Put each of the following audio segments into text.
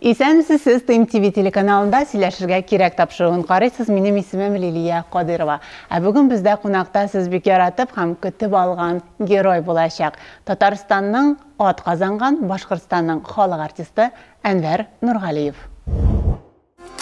Исәнмесез, сез Тыйм ТВ телеканалында Сөйләшергә кирәк тапшыруын карыйсыз, минем исемем Лилия Кадыйрова. Ә бүген бездә кунакта сез бик яратып һәм көтеп алган герой булачак, Татарстанның ат казанган, Башкортстанның халык артисты Әнвәр Нургалиев.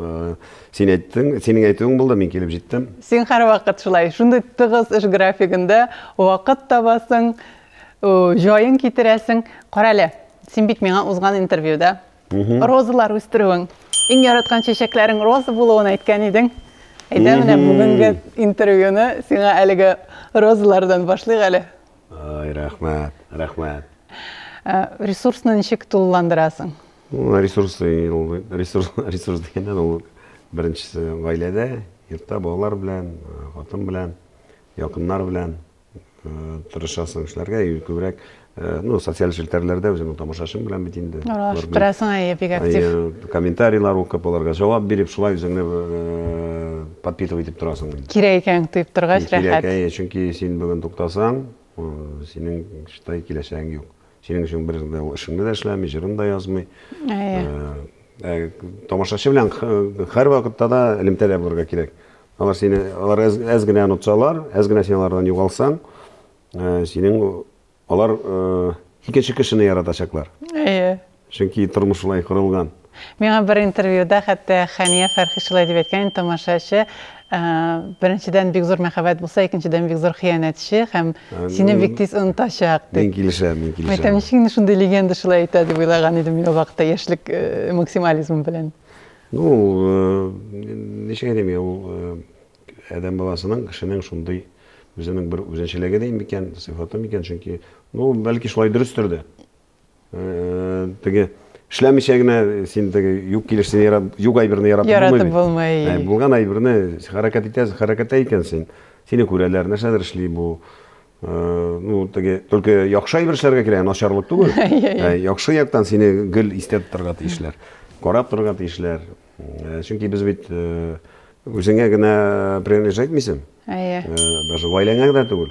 Э, син әйттең, синең әйтүең булды, мин килеп җиттем. Син һәрвакыт шулай, шундый тыгыз эш графигында вакыт табасың, җаен китерәсең. Кара әле, син бит миңа узган интервьюда розалар үстерүең, иң яраткан чәчәкләрең роза булуын әйткән идең. Әйдә менә бүгенге интервьюны сиңа әлеге розалардан башлыйк әле. Ай, рәхмәт, рәхмәт. Э, ресурсны ничек тулыландырасың? Ресурсы, ресурс, ресурс дигәндә ул беренчесе гаиләдә, йортта балалар белән, хатын белән, якыннар белән тырышасың эшләргә, күбрәк ну, социаль челтәрләрдә үземнең тамашачым белән бит инде. Торасың әйе, бик актив. Комментарийлар укып, аларга җавап биреп, шулай үзеңне подпитывать итеп торасың. Кирәк икән дип торгач, рәхәт. Кирәк, әйе, чөнки син бүген туктасаң, синең, считай, киләчәгең юк. Синең өчен бер дә ул эшеңне дә эшләми, җырын да язмый. Әйе. Ә, тамашачы белән һәрвакытта да элемтәдә булырга кирәк. Алар сине, алар әз, әз генә онытсалар, әз генә син алардан югалсаң, синең алар икенче кешене яратачаклар. Әйе. Чөнки тормыш шулай корылган. Миңа бер интервьюда хәтта Хәния Фәрхи шулай дип әйткән инде, Тамашачы, беренчедән бик зур мәхәббәт булса, икенчедән бик зур хыянәтче һәм сине бик тиз онытачак, дип. Мин килешәм, мин килешәм. Мин әйтәм, ничек инде шундый легенда шулай әйтә, дип уйлаган идем мин ул вакытта, яшьлек максимализмы белән. Ну, ничек әйтим, ул адәм баласының, кешенең шундый үзенең бер үзенчәлеге дим микән, сыйфаты микән, чөнки, ну, бәлки шулай дөрестер дә. теге эшләмичә генә син теге юк килешне ярап, юк әйберне ярап яратып булмый. Ә, булган әйберне хәрәкәт итәсең, хәрәкәттә икәнсең. Сине күрәләр, нәрсәдер эшли бу. Э, ну, теге только яхшы әйбер эшләргә кирәк, начарлык түгел. Ә, яхшы яктан сине гел истә тотарга тиешләр. Карап торырга тиешләр. Э, чөнки без бит э, үзеңә генә принадлежать итмисең. Әйе. Э, даже гаиләңә генә түгел.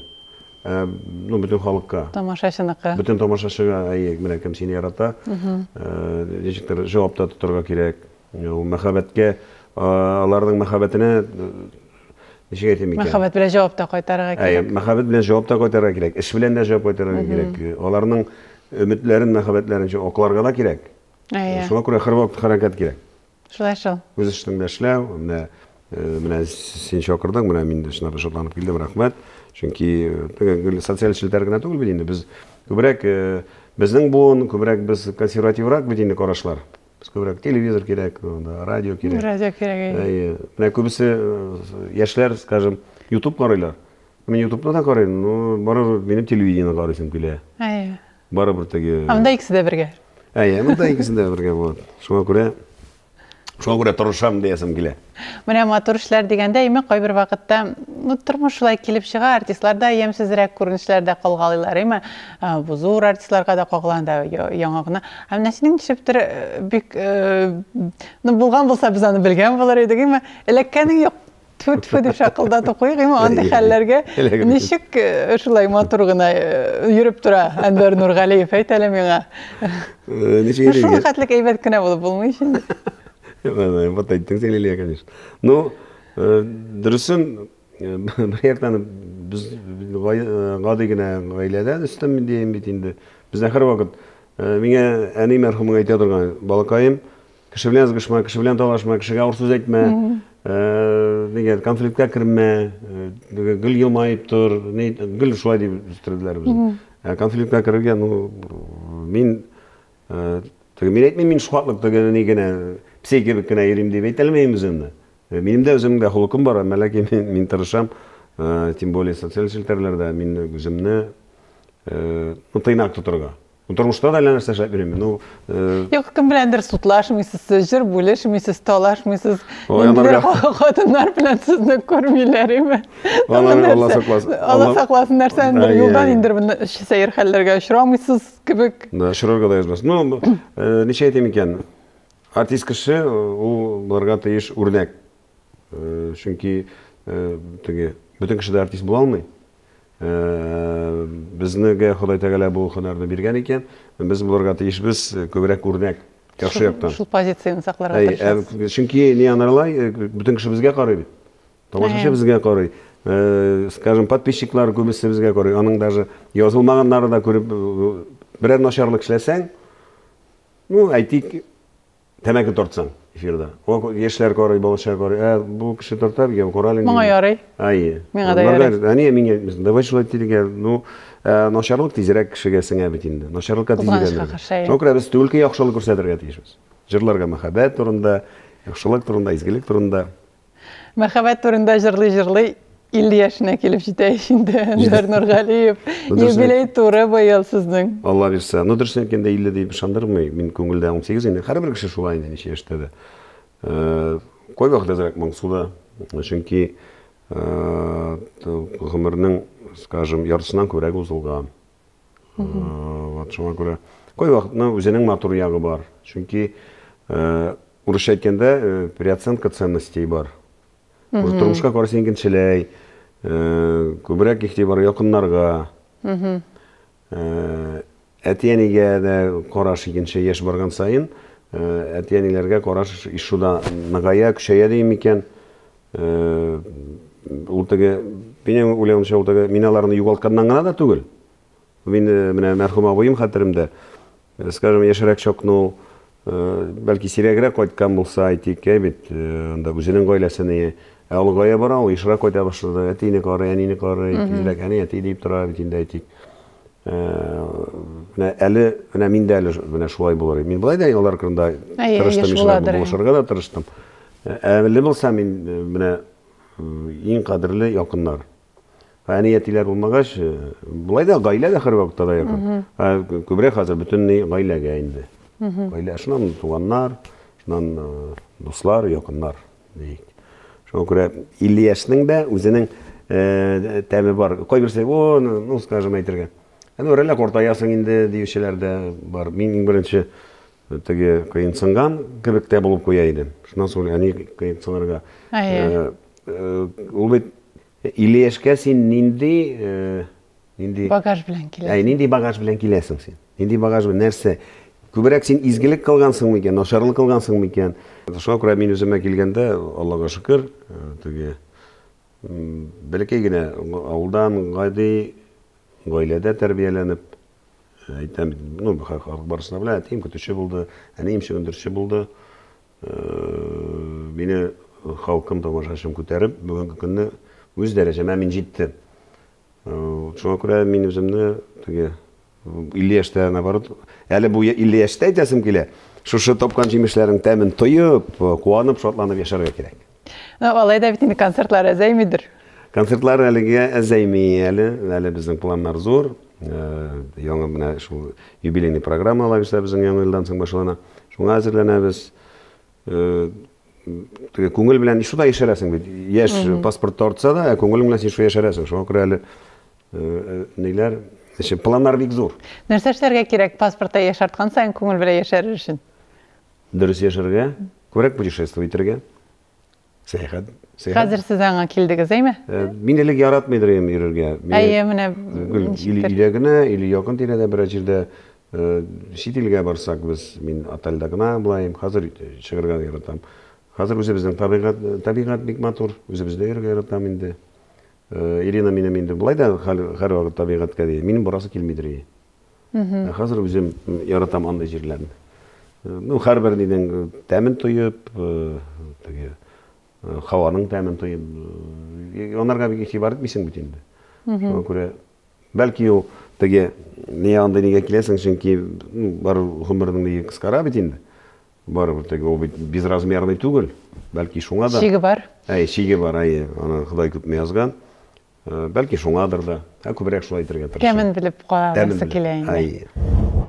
Э, ну, бөтен халыкка. Тамашачыныкы. Бөтен тамашачыга, әйе, менә кем сине ярата. Э, ничектер җавапта тотарга кирәк. Ул мәхәббәткә, аларның мәхәббәтенә ничек әйтим икән? Мәхәббәт белән җавап та кайтарырга кирәк. Әйе, мәхәббәт белән җавап та кайтарырга кирәк. Эш белән дә җавап кайтарырга кирәк. Аларның өметләрен, мәхәббәтләрен акларга да кирәк. Әйе. Шуңа күрә һәрвакыт хәрәкәт кирәк. Шулай шул. Үз эшеңне белән эшләү, менә менә син чакырдың, менә мин чынлап да шатланып килдем, рәхмәт. Чөнки гел социаль челтәр генә түгел бит инде, без күбрәк безнең буын, күбрәк без консервативрак бит инде карашлар. Без күбрәк телевизор кирәк, радио кирәк. Радио кирәк. Әйе. Менә күбесе яшьләр, скажем, YouTube карыйлар. Мин ютубны да карыйм, но барыбер минем телевидение карыйсым килә. Әйе. Барыбер теге... Ә монда икесе дә бергә. Әйе, монда икесе дә бергә булат. Шуңа күрә Шуңа күрә тырышам диясем килә. Менә матур эшләр дигәндә, имек кайбер вакытта, ну, тормыш шулай килеп чыга, артистлар да ямьсезрәк күренешләр дә калгалыйлар, име? Бу зур артистларга да кагылган да яңа гына. Ә менә синең ничектер бик, ну, булган булса, без аны белгән булыр идек, име? Эләккәнең юк. Тфү-тфү дип шакылдатып куйгыйм, андый хәлләргә ничек э, шулай матур гына э, йөреп тора Әнвәр Нургалиев, әйт әле миңа. Э, ничек Шул хәтлек әйбәт кенә булып булмый ич инде. Вот әйттең син, Лилия, конечно. Ну, дөресен, бер яктан без гади генә гаиләдән өстәм дигән бит инде. Бездә һәрвакыт миңа әни мәрхүмең әйтә торган, балакаем, Кеше белән ызгышма, кеше белән талашма, кешегә авыр сүз әйтмә, дигән, конфликтка кермә, гел елмаеп тор, гел шулай дип үстерделәр безне. Ә конфликтка керергә, ну, мин, теге, мин әйтмим, мин шуатлык теге ни генә, псей кебек кенә йөрим дип әйтә алмыйм үземне. Минем дә үземнең дә холыкым бар, әмма ләкин мин, мин тырышам, тем более социаль челтәрләрдә мин үземне, ну, тыйнак тотырга. Тормышта да әллә нәрсә эшләп йөрим. Ну, э, Юк, кем беләндер судлашмыйсыз, сез җыр бүлешмисез, талашмыйсыз. Ой, Инде анарга- ха- Хатыннар белән сезне күрмиләр име? Алла- Тагын Алла нәрсә? сакласын. Алла Алла- сакласын, нәрсәдер Ай, юлдан ай. инде бер сәер хәлләргә очрамыйсыз кебек. Да, шырырга да язмас. Ну, б- э, ничә әйтим икән? Артист кеше, э, ул булырга тиеш үрнәк. Чөнки теге бөтен кеше дә артист була алмый. Безнегә Ходай Тәгалә бу һөнәрне биргән икән, без булырга тиешбез күбрәк үрнәк, яхшы яктан. Шул позицияне сакларга тырышасыз. Чөнки не анарлай, бөтен кеше безгә карый бит. Тамашачы безгә карый. Скажем, подписчиклар күбесе безгә карый. Аның даже язылмаганнары да күреп, берәр начарлык эшләсәң, ну, әйтик, Тәмәке тартсаң эфирда. О, яшьләр карый, балача карый. Ә бу кеше тарта икән, карале. Моңа ярый. Ай. Миңа да ярый. Әни, миңа давай шулай тилгә. Ну, э, начарлык тизрәк кешегә сеңә бит инде. Начарлыкка тизрәк. Шуңа күрә без түгелке яхшылык күрсәтергә тиешбез. Җырларга мәхәббәт турында, яхшылык турында, изгелек турында. Мәхәббәт турында җырлый-җырлый 50 яшенә килеп җитә ич инде Әнвәр Нургалиев. Юбилей туры быел сезнең. Алла бирсә. Ну, дөресен әйткәндә, 50 дип ышандырмый. Мин күңелдә 18 инде. Һәрбер кеше шулай инде, ничә яшьтә дә. Э, кайвакыт әзрәк моңсу да. Чөнки э, гомернең, скажем, яртысыннан күбрәге узылган. Вот шуңа күрә кайвакытны үзенең матур ягы бар. Чөнки урысча әйткәндә переоценка ценностей бар. Уже тормышка караш икенчеләй, күбрәк игътибар якыннарга. Әти-әнигә дә караш икенче яшь барган саен, әти-әниләргә караш ишуда ныгая, көчәя дим микән? Ул теге, минем уйлавымча, ул теге миналарны югалтканнан гына да түгел. Мин менә мәрхүм абыем хәтеремдә, скажем, яшерәк чакны ул бәлки сирәгрәк кайткан булса, әйтик, бит, анда үзенең гаиләсенә Ә олыгая бара ул, ешрак кайта башлады. Әтине карый, әнине карый, тизрәк әни, әти дип тора бит инде, әйтик. менә әле менә мин дә әле менә шулай булыр мин болай да алар кырында тырыштым булышырга да тырыштым әле булса мин менә иң кадерле якыннар әни әтиләр булмагач болай да гаилә дә һәрвакытта да якын күбрәк хәзер бөтенләй гаиләгә инде гаилә шуннан туганнар шуннан дуслар якыннар Ник? Шуңа күрә Ильяшның да үзенең э, тәме бар. Кайберсе, о, ну, ну, скажем, әйтергә. Әне ну, үрәләк уртаясың инде диючеләр дә бар. Мин иң беренче э, теге кыенсынган кебек тә булып куя идем. Шуннан соң әни кыенсынырга. Э, э, ул бит Ильяшка син нинди Нинди багаж белән киләсең? Әй, нинди багаж белән киләсең син? Нинди багаж белән, нәрсә? Күбрәк син изгелек кылгансың микән, начарлык кылгансың микән? Шуңа күрә мин үземә килгәндә, Аллага шөкер, теге бәләкәй генә авылдан, гади гаиләдә тәрбияләнеп, әйтәм, ну, халык барысы да белә, әтием көтүче булды, әнием чөгендерче булды. Мине халкым, тамашачым күтәреп, бүгенге көнне үз дәрәҗәмә мин җиттем. Шуңа күрә мин үземне теге 50 яшьтә наоборот, әле бу 50 яшьтә әйтәсем килә. Шушы тапкан җимешләрең тәмен тоеп, куанып, шатланып яшәргә кирәк. Ну, алай да бит инде концертлар әзәймидер. Концертлар әлегә әзәйми әле. Әле безнең планнар зур. Яңа менә шул юбилейный программа алабыз безнең яңа елдан соң башлана. Шуңа әзерләнәбез. теге күңел белән шуда яшәрәсең бит. Яшь паспорт тартса да, ә күңел белән син шуда яшәрәсең. Шуңа күрә әле ниләр, эше планнар бик зур. Нәрсә эшләргә кирәк паспортта яшарткан саен күңел белән яшәрер өчен? Дөрес яшәргә, күбрәк путешествовать итәргә. Сәяхәт. Сәяхәт. Хәзер сез аңа килдегез, әйме? Э, мин элек яратмыйдыр идем йөрергә. Әйе, менә или илә генә, или якын тирәдә берәр җирдә э, чит илгә барсак без, мин отельдә гына булаем. Хәзер чыгарга яратам. Хәзер үзебезнең табигать, табигать бик матур. Үзебездә йөрергә яратам инде. Э, Ирина минем инде болай да һәр вакыт табигатькә ди. Минем барасы килмидер. Ә хәзер үзем яратам андый җирләрне. Ну, һәрбер нинең тәмен тоеп, теге һаваның тәмен тоеп, анарга бик игътибар итмисең бит инде. Шуңа күрә бәлки ул теге не андый нигә киләсең, чөнки бар гомернең нигә кыскара бит инде. Барыбер теге ул бит безразмерный түгел. Бәлки шуңа да. Чиге бар. Әй, чиге бар, әй, аны Ходай күпме язган. Бәлки шуңадыр да, ә күбрәк шулай әйтергә тырышам. Тәмен белеп караргысы килә инде. Әйе.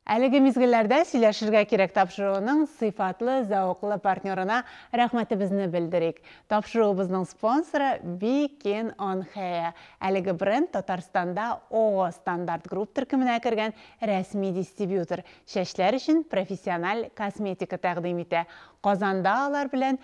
Әлеге мизгелләрдә сөйләшергә кирәк тапшыруының сыйфатлы, зәвыклы партнерына рәхмәтебезне белдерик. Тапшыруыбызның спонсоры Бикин он Хеа. Әлеге бренд Татарстанда ООО Стандарт Групп төркеменә кергән рәсми дистрибьютор. Чәчләр өчен профессиональ косметика тәкъдим итә. Казанда алар белән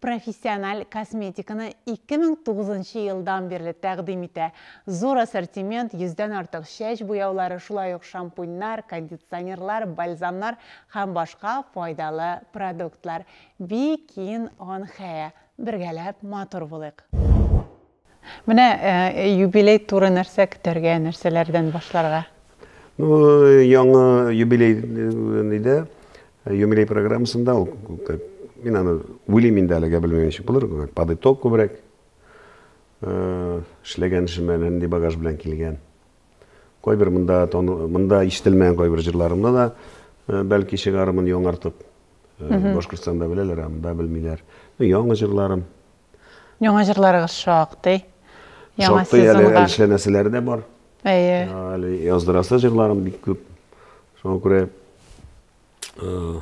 Профессиональ косметиканы 2009 нчы елдан бирле тәкъдим итә. Зур ассортимент, йөздән артык чәч буяулары, шулай ук шампуньнар, кондиционерлар, бальзамнар һәм башка файдалы продуктлар. Бикин он Хеа. Бергәләп матур булыйк! Менә юбилей туры нәрсә көтәргә, нәрсәләрдән башларга? Ну, яңа юбилей нидә, юбилей программасында ул, мин аны уйлыйм инде әлегә, белмим ничек булыр, под итог күбрәк эшләгән эшемә нинди багаж белән килгән. Кайбер монда монда ишетелмәгән кайбер җырларымны да бәлки чыгармын яңартып. Башкортстанда беләләр, ә монда белмиләр. Яңа җырларым, Яңа җырларыгыз шактый. Яңа Шактый әле сезонга. Әлшә нәрсәләре дә бар. Әйе. Әле яздырасы җырларым бик күп. Шуңа күрә э,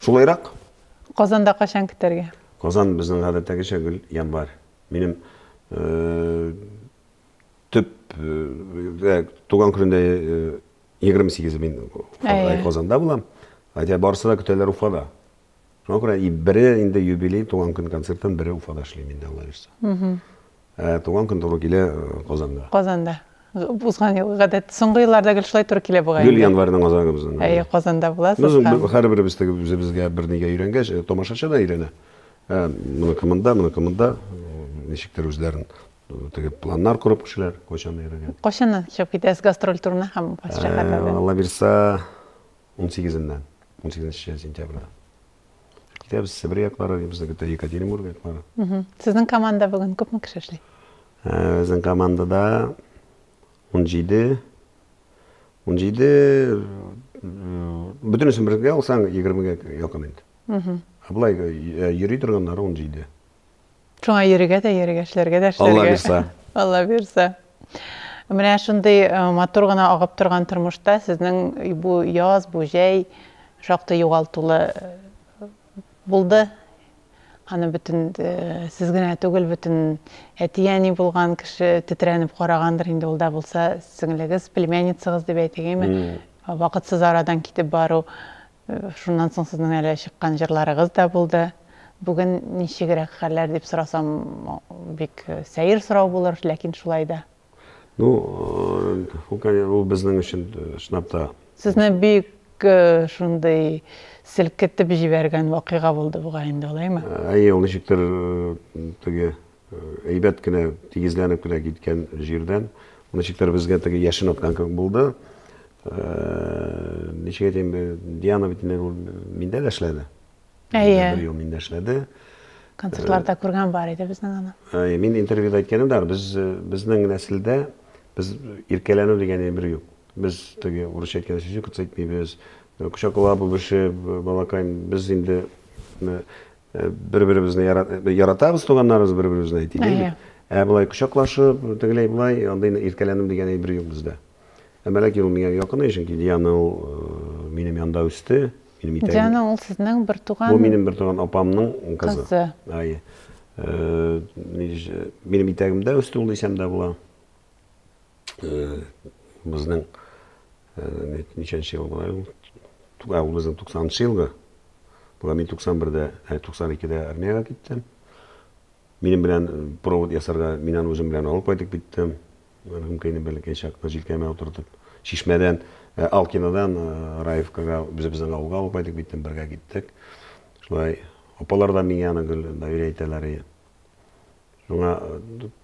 шулайрак. Казанда качан көтәргә? Казан безнең гадәттәгечә гел январь. Минем э, төп э, туган көнендә 28 мин Казанда булам. Хотя барысы да көтәләр Уфада. Шуңа күрә и бере инде юбилей, туган көн концертын, бере Уфада эшлим инде, Алла бирса. Ә туган көн туры килә э, Казанда. Казанда. Узган ел гадәт соңгы елларда гел шулай туры килә бугай. Гел январьның азагы безнең. Әйе, Казанда буласыз. Без һәм... һәрберебез теге үзебезгә бернигә өйрәнгәч, э, тамашачы да өйрәнә. Ә, моны кымында, моны кымында, ничектер үзләрен теге планнар корып кешеләр кайчан йөргән. Кайчаннан чыгып китәсез гастроль турына һәм шәһәрләрдә? Алла бирса, Унсигезеннән, унсигезенче сентябрьдән. Китәбез Себер яклары, китәбез бит Екатеринбург яклары. Сезнең команда бүген күпме кеше эшли? Безнең командада 17 17 бөтенесен бергә алсаң, 20-гә якын инде. Ә болай йөри торганнары 17. Шуңа йөрергә дә, йөрергә, эшләргә дә, эшләргә. Алла бирса. Алла бирса. Менә шундый э, матур гына агып торган тормышта сезнең бу яз, бу җәй шактый югалтулы э, булды. Аны бөтен э, сез генә түгел, бөтен әти-әни булган кеше тетрәнеп карагандыр инде ул да булса, сеңлегез, племянницагыз дип әйтегеме, вакытсыз арадан китеп бару. Шуннан соң сезнең әле чыккан җырларыгыз да булды. Бүген ничегрәк хәлләр дип сорасам, бик сәер сорау булыр, ләкин шулай да. Ну, ул безнең өчен чынлап та. Сезне бик шундый селкетеп җибәргән вакыйга булды бугай инде, алаймы? Әйе, ул ничектер теге. Әйбәт кенә тигезләнеп кенә киткән җирдән ничектер безгә теге яшен аткан кебек булды. Ничек әйтәм, Диана бит инде миндә дә эшләде. Әйе. Бер ел миндә эшләде. Концертларда күргән бар иде безнең аны. Әйе, мин интервьюда әйткәнем дә, без безнең нәселдә без иркәләнү дигән бер юк. Без теге урысча әйткәндә сүзне кыцайтмыйбыз, кочаклап үбешеп, балакай, без инде Э, бер-беребезне яратабыз, туганнарыбыз бер-беребезне әйтик. Әйе. Ә болай кочаклашып, тегеләй болай, андый иркәләнем дигән әйбер юк бездә. Ә Мәләк юл миңа якын, э, чөнки Диана ул э, минем янда үсте, минем итәгем. Диана ул сезнең бер туган. Бу минем бер туган апамның кызы. Кызы. Әйе. Минем итәгемдә үсте ул дисәм дә була. Э, безнең э, ничәнче ел була ул ә ул безнең туксанынчы елгы була мин туксан бердә ә туксан икедә армиягә киттем минем белән э, провод ясарга мин аны үзем белән алып кайтып киттем рюмканы бәләкәй чакта җилкәмә утыртып чишмәдән ә, алкинадан ә, раевкага үзебезнең авылга алып кайтып киттем бергә киттек шулай апалар да миңа аны гел доверие итәләр Миңа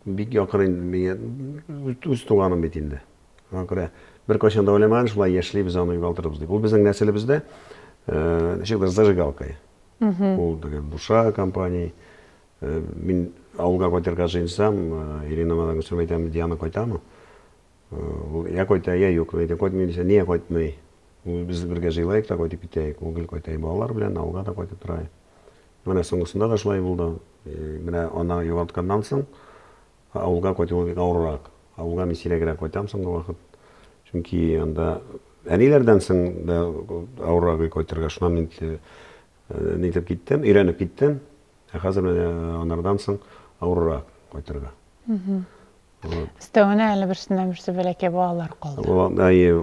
бик якын инде, миңа үз туганым бит инде. Шуңа күрә беркайчан да уйламаган, шулай яшьлибез, аны югалтырбыз дип. Ул безнең нәселебездә ничектер зажигалкой. Ул теге буша компания. Мин авылга кайтырга җыенсам, Ирина мадам сөйләп әйтәм, Диана кайтамы? Ул я кайта, я юк. Әйтә, кайтмый дисә, нигә кайтмый? Ул без бергә җыелайык та кайтып китәйек. Ул гел кайта балалар белән, авылга да кайтып тора. Менә соңгысында да шулай булды. Менә аны югалтканнан соң, авылга кайтуы бик авыррак. Авылга мин сирәгрәк кайтам соңгы вакыт. Чөнки анда әниләрдән соң да авыррак өй кайтырга. Шуннан мин нитеп киттем, өйрәнеп киттем. Ә хәзер менә анардан соң авыррак кайтырга. Өстәвенә әле берсеннән берсе бәләкәй балалар калды. Әйе,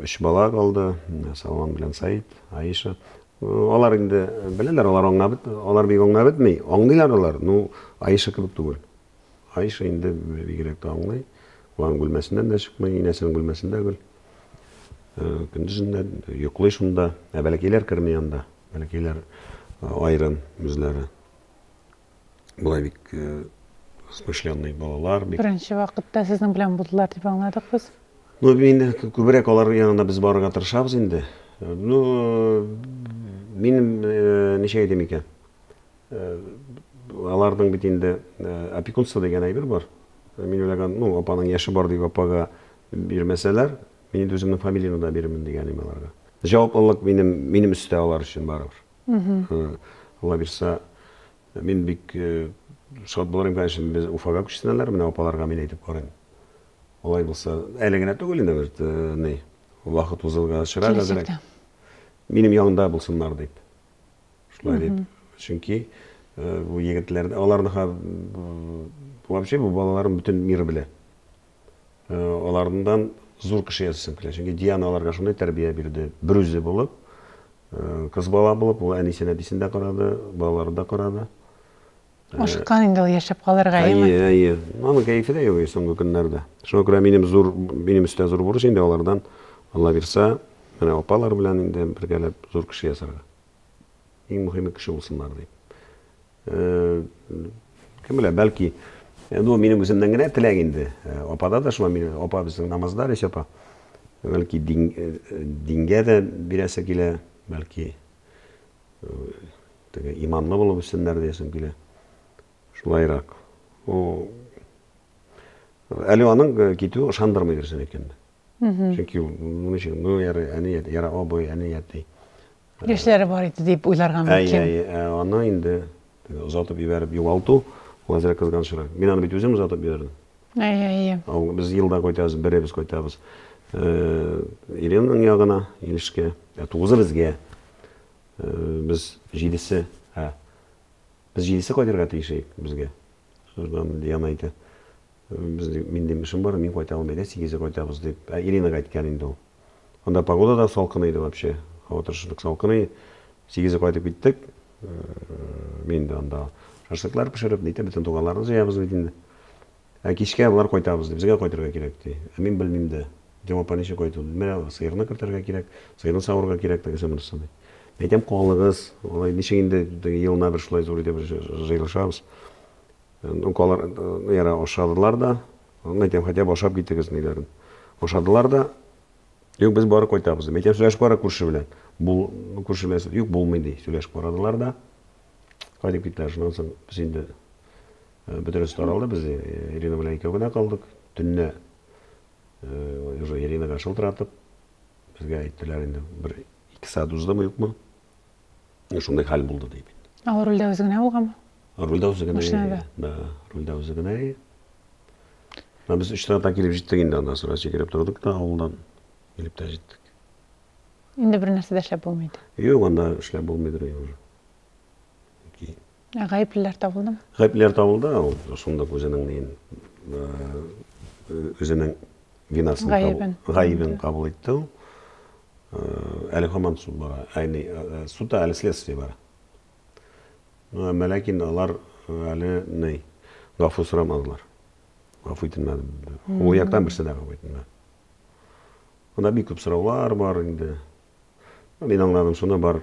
өч бала калды. Салман белән Саид, Аиша. Алар инде беләләр, алар аңлап бит, алар бик аңлап бетми. Аңлыйлар алар, ну, Аиша кебек түгел. Аиша инде бигрәк тә аңлый. Ван бүлмәсеннән дә чыкмый, инәсенең бүлмәсендә гел. Көндезен дә йоклый шунда. Ә бәләкәйләр керми анда. Бәләкәйләр аерым үзләре. Болай бик э, смышленный балалар. Бик... Беренче вакытта сезнең белән булдылар дип аңладык без. Ну, мин күбрәк алар янына без барырга тырышабыз инде. Ну, мин э, ничә әйтәм икән? Э, аларның бит инде э, опекунство дигән әйбер бар. Мин уйлаган, ну, апаның яше бар дип апага бирмәсәләр, мин инде үземнең фамилияны да бирермен дигән идем аларга. Җаваплылык минем минем өстә алар өчен барыбер. Булабирса, мин бик шат булыр идем, конечно, без Уфага күчсенәләр, менә апаларга мин әйтеп карыйм. Алай булса, әле генә түгел инде бит, ни, вакыт узылгачрак әзрәк. Минем янда булсыннар дип. Шулай дип. Чөнки бу егетләрне, аларны вообще бу балаларым бөтен мир белә. алардан зур кеше ясыйсың килә. Чөнки Диана аларга шундый тәрбия бирде. Берүзе булып, кыз бала булып, ул әнисен, әбисен дә карады, балаларын да карады. Ашыккан инде ул яшәп калырга, әйеме? Әйе, әйе. Аның кәефе дә юк соңгы көннәрдә. Шуңа күрә минем зур, минем өстә зур бурыч инде алардан, Алла бирса, менә апалар белән инде бергәләп зур кеше ясарга. Иң мөһиме кеше булсыннар дип. Кем белә, бәлки ну минем үземнән генә теләк инде. Апада да шулай мин апа безнең намазда Рәйсә апа. Бәлки дин, дингә дә бирәсе килә, бәлки теге иманлы булып үссеннәр диясем килә. Шулайрак. Әле аның китүе ышандырмый дөресен әйткәндә. Мгм. Чөнки ул моны өчен ну яра әни әти, яра абый, әни әти. Яшьләре бар иде дип уйларга мөмкин. Әй, әй, ә аны инде озатып җибәреп югалту, ул әзрәк кызганычрак. Мин аны бит үзем озатып җибәрдем. Әй, әй, әй. Без елда кайтабыз, беребез кайтабыз. Иренаның ягына, Илешкә. Тугызы безгә. Без җидесе, ә Без җидесе кайтырга тиеш идек безгә. Шырдан Диана әйтә. Безнең минем эшем бар, мин кайта алмыйм, әйдә сигезе кайтабыз дип. Ә Иринага әйткән инде ул. Анда погода да салкын иде вообще. Һава торышы бик салкын иде. Сигезе кайтып киттек. Мин дә анда шашлыклар пешереп, нитеп, бөтен туганнарны җыябыз бит инде. Ә кичкә болар кайтабыз ди, безгә кайтырга кирәк ди. Ә мин белмим дә. Дим, апа, ничек кайту? Ди, менә сыерны кертергә кирәк, сыерны савырырга кирәк, тегесе, монысы, ди. Әйтәм, калыгыз, алай ничек инде елына бер шулай зур итеп җыелышабыз. Ну, алар яра ашадылар да, әйтәм, хәтәп ашап китегез, ниләрен. Ашадылар да, юк, без барып кайтабыз, дим. Әйтәм, сөйләшеп кара күрше белән. Бул, күрше белән, юк, булмый, ди. Сөйләшеп карадылар да, кайтып киттеләр. Шуннан соң без инде Бөтенесе таралды, без Ирина белән икәү генә калдык. Төнне уже Иринага шылтыратып, безгә әйттеләр инде, бер ике сәгать уздымы, юкмы, шундый хәл булды дип. Ал рульдә үзе генә булганмы? Рульдә үзе генә. Машинада. Да, рульдә үзе генә. Ә без өч сәгатьтә килеп җиттек инде анда, сразу сикереп тордык та авылдан килеп тә җиттек. Инде бер нәрсә дә эшләп булмый иде. Юк, анда эшләп булмыйдыр инде. Ә гаеплеләр табылдымы? Гаеплеләр табылды, ул шундук үзенең неен үзенең винасын гаебен, гаебен кабул итте ул. Әле һаман суд бара. Әйни, судта әле следствие бара. Ну, әмма ләкин алар әле ни, гафу сорамадылар. Гафу ителмәде. Ул яктан берсе дә гафу ителмәде. Анда бик күп сораулар бар инде. Мин аңладым шуны бар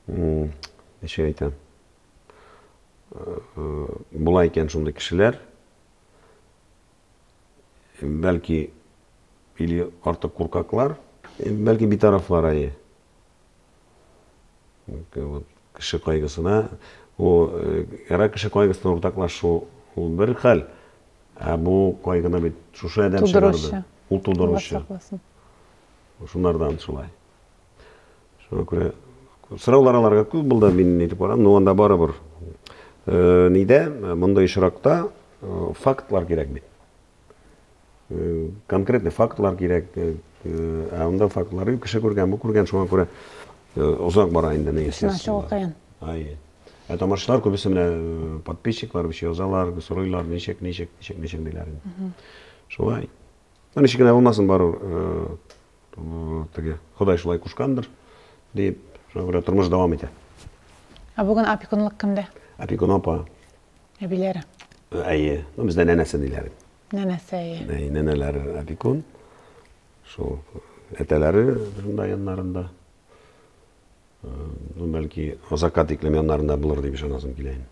ничек әйтәм була икән шундый кешеләр бәлки или артык куркаклар бәлки битарафлар әйе вот кеше кайгысына ул эра кеше кайгысына уртаклашу ул бер хәл ә бу кайгыны бит шушы адәм чыгарды ул тудыручы Шунардан шулай. Шуңа күрә сораулар аларга күп булды, мин ни дип барам, но анда барыбер э, нидә мондый очракта э, фактлар кирәк бит. Э, конкретный фактлар кирәк. Ә анда фактлар кеше күргән, бу күргән, шуңа күрә озак бара инде ни. Исенә чыгу кыен. Ай. Ә тамашачылар күбесе менә подписчиклар биш язалар, сорыйлар, ничек, ничек, ничек, ничек диләр. Шулай. Ничек кенә булмасын, бару теге Ходай шулай кушкандыр, дип, шуңа күрә тормыш дәвам итә. Ә бүген опекунлык кемдә? Опекун апа. Әбиләре? Әйе. Ну, бездә нәнәсе диләр. Нәнәсе, әйе. Әйе, нәнәләре опекун. Шул әтәләре шунда яннарында. Ну, бәлки, озакка тиклем яннарында булыр дип ышанасым килә инде.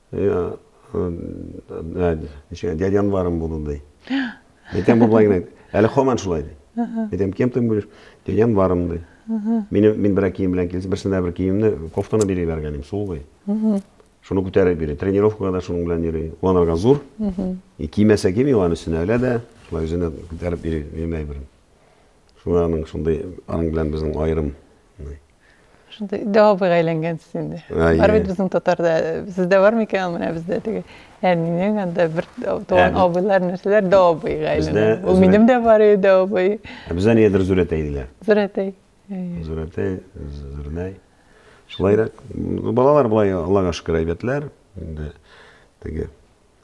Ничек дядя Анварым булды ди. Әйтәм бу болай гына. Әле хаман шулай ди. Әйтәм, кем ты будешь? Дядя Анварым ди. Мин мин бер кием белән килсә, берсенә бер киемне, кофтаны бери бергәнем, сулый. Шуны күтәреп бери. Тренировкага да шуның белән йөри. Уанарга зур. И кимәсә кими аны сенә әле дә, шулай үзенә күтәреп бери, мин әйберем. Шуларның шундый аның белән безнең аерым. Шундый дәвабыйга әйләнгәнсез инде. Бар бит безнең татарда, сездә бар микән, менә бездә теге әнинең анда бер туган абыйлар нәрсәләр дәвабыйга әйләнгән. Ул минем дә бар иде дәвабый. Бездә нидер Зурәтәй диләр. Зурәтәй. Зурәтәй, Зурнәй. Шулайрак. Балалар болай Аллага шөкер әйбәтләр. Инде теге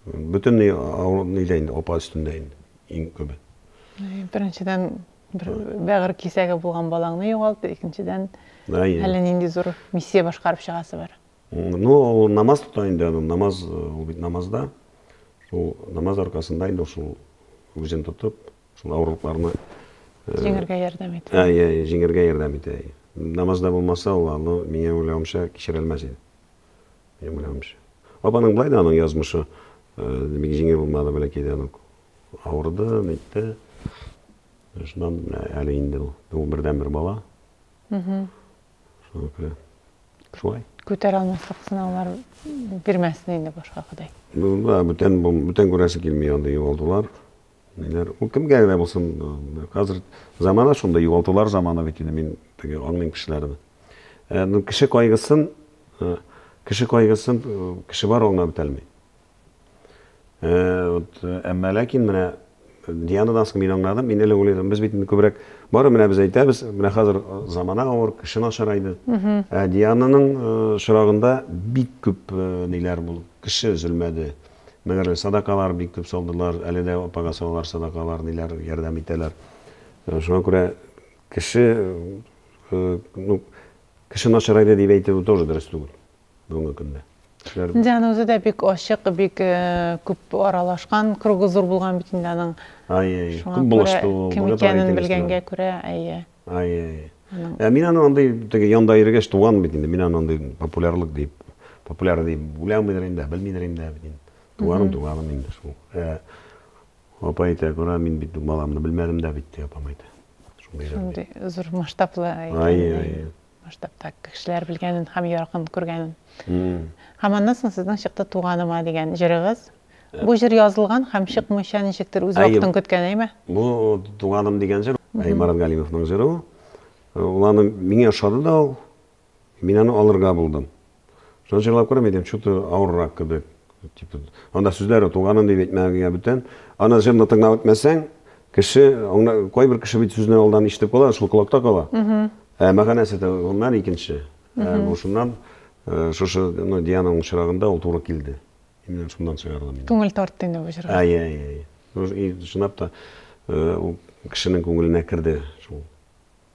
бөтенләй авыру нидә инде апа өстендә инде иң күбе. Беренчедән Бер бәгырь кисәге булган балаңны югалту, икенчедән, әллә нинди зур миссия башкарып чыгасы бар. Ну, ул намаз тота инде, аны намаз, ул бит намазда. Шул намаз аркасында инде шул үзен тотып, шул авырлыкларны җиңәргә ярдәм итә. Ә, я, җиңәргә ярдәм итә. Намазда булмаса, ул аны миңа уйлавымча кичерә алмас иде. Минем уйлавымча. Апаның былай да аның язмышы бик җиңел булмады, бәләкәйдән үк. Авырды, нитте. Шуннан әле инде ул. Ул бердәнбер бала. Шуңа күрә шулай. Күтәрә алмаслык сынаулар бирмәсен инде башка Ходай. Ну да, бүтән бүтән күрәсе килми анда югалтулар. Ниләр? Ул кемгә генә булсын, хәзер замана шунда югалтулар заманы бит инде мин теге аңлыйм кешеләрне. Э, ну кеше кайгысын, э, кеше кайгысын э, кеше бар аңлап бетәлми. Э, вот, э, әмма ләкин менә э, Дианадан соң мин аңладым, мин элек уйлыйдым, без бит инде күбрәк бары менә без әйтәбез, менә хәзер замана авыр, кеше начарайды. Ә Диананың шырагында бик күп ниләр булды, кеше өзелмәде. Мәгәр садакалар бик күп салдылар, әле дә апага салалар садакалар, ниләр ярдәм итәләр. Шуңа күрә кеше, ну, кеше начарайды дип әйтү тоже дөрес түгел. бүгенге көндә. Кешеләр Инде аны үзе дә бик ачык, бик күп аралашкан, кругы зур булган бит инде аның. Әйе, әйе. Күп булышты ул. Кем икәнен белгәнгә күрә, әйе. Әйе, әйе. Ә мин аны андый теге янда йөргәч туган бит инде. Мин аны андый популярлык дип, популяр дип уйламыйдыр инде, белмидер инде бит инде. Туганым, туганым инде шул. Ә апа әйтә, күрә, мин бит баламны белмәдем дә бит, ди апам әйтә. Шундый зур масштаблы. Әйе, әйе. Масштабта кешеләр белгәнен һәм якын күргәнен. Һәм аннан соң сезнең чыкты Туганыма дигән җырыгыз. Бу җыр язылган һәм чыкмыйча ничектер үз вакытын көткән, әйме? Бу Туганым дигән җыр, Марат Галимовның җыры ул. Ул аны миңа ошады да ул. Мин аны алырга булдым. Шуны җырлап күрәм идем, чуты авыррак кебек. Типа, анда сүзләре туганын дип әйтмәгәнгә бүтән. Ана җырны тыңлап үтмәсәң, кеше, аңна, кайбер кеше бит сүзне алдан ишетеп кала, шул колакта кала. Ә мәгънәсе дә гомумән икенче. Ә бу шуннан шушы, ну, Диананың очрагында ул туры килде. Именно шуннан чыгардым мин. Күңел тартты инде бу җырга. Әйе, әйе, әйе. Чынлап та, ул кешенең күңеленә керде шул.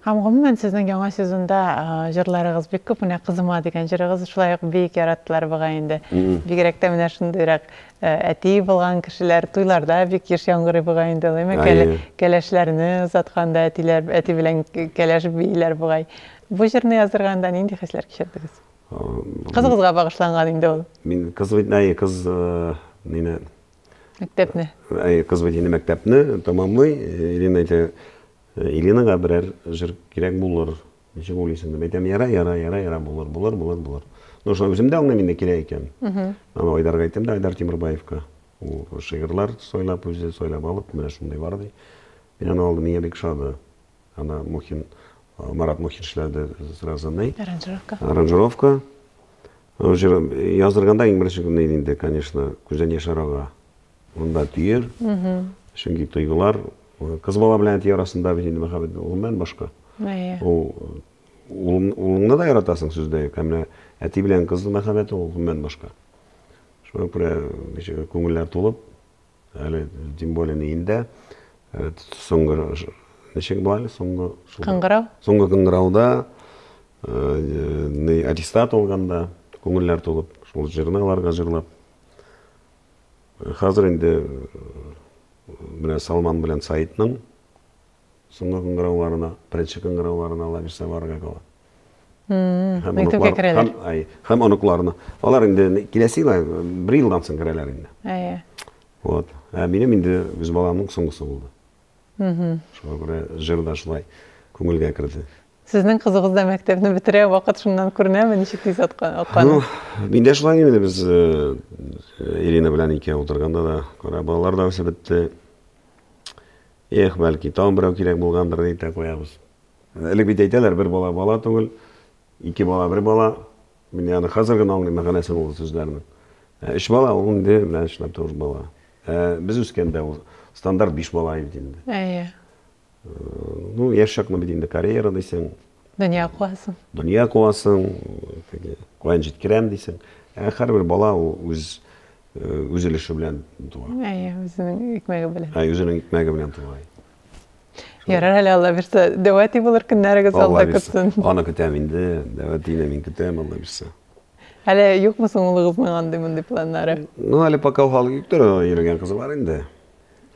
Һәм гомумән сезнең яңа сезонда җырларыгыз бик күп, менә Кызыма дигән җырыгыз шулай ук бик яраттылар бугай инде. Бигрәк тә менә шундыйрак әти булган кешеләр туйларда бик еш яңгырый бугай инде ул, әйме? Әйе. Кәләшләрне озатканда әтиләр, әти белән кәләш бииләр бугай. Бу җырны язырганда нинди хисләр кичердегез? Кызыгызга багышланган инде ул. Мин кыз бит, әйе, кыз мине Мәктәпне. Әйе, кыз бит инде мәктәпне тәмамлый, Ирина әйтә. Иринага берәр җыр кирәк булыр, ничек уйлыйсың, дип әйтәм, яра, яра, яра, яра, булыр, булыр, булыр, булыр. Ну, шуны үзем дә аңлыйм инде, кирәк икән. Аны Айдарга әйтәм дә, Айдар Тимербаевка. Ул шигырьләр сайлап, үзе сайлап алып, менә шундый бар, ди. Мин аны алдым, миңа бик ошады. Аны Мухин, Марат Мухин эшләде сразу, ни? Аранжировка. Аранжировка. Җыр язырганда иң беренче көнне инде, конечно, күздән яшь арага. Монда тиер. Чөнки тойгылар кыз бала белән әти арасында бит инде мәхәббәт гомумән башка. Әйе. Ул улыңны да яратасың сүздә юк. Ә менә әти белән кыз мәхәббәте ул гомумән башка. Шуңа күрә ничек күңелләр тулып, әле тем более инде э, соңгы ничек була әле соңгы кыңгырау. Соңгы кыңгырауда э, аттестат алганда күңелләр тулып, шул җырны аларга җырлап Хәзер инде менә Салман белән Саидның соңгы кыңгырауларына, беренче кыңгырауларына ла бирсә барырга кала. Һәм оныклар, һәм, ай, һәм оныкларына. Алар инде киләсе ел, бер елдан соң керәләр инде. Әйе. Вот. Ә минем инде үз баламның соңгысы булды. Шуңа күрә җыр да шулай күңелгә керде. Сезнең кызыгыз да мәктәпне бетерә, вакыт шуннан күренәме, ничек тиз аткан? Ну, мин дә шулай инде без э, Ирина белән икәү утырганда да, күрә балалар да үсеп бетте. Эх, бәлки, тагын берәү кирәк булгандыр дип тә куябыз. Элек бит әйтәләр, бер бала бала түгел, ике бала бер бала. Мин аны хәзер генә аңлыйм мәгънәсен ул сүзләрнең. Ә өч бала ул инде менә эшләп тә уж бала. Ә без үскәндә ул стандарт биш бала иде инде. Әйе. Ну, яшь чакны бит инде карьера дисең. Дөнья куасың. Дөнья куасың, теге каян җиткерәм дисең. Ә һәрбер бала ул үз үз өлеше белән туа. Әйе, үзенең икмәге белән. Әйе, үзенең икмәге белән туа. Ярар әле Алла бирсә, дәвәти булыр көннәрегез алда көтсен. Аны көтәм инде, дәвәтине мин көтәм Алла бирсә. Әле юкмы соң улыгызның андый мондый планнары? Ну, әле пока хал юктыр, йөргән кызы бар инде.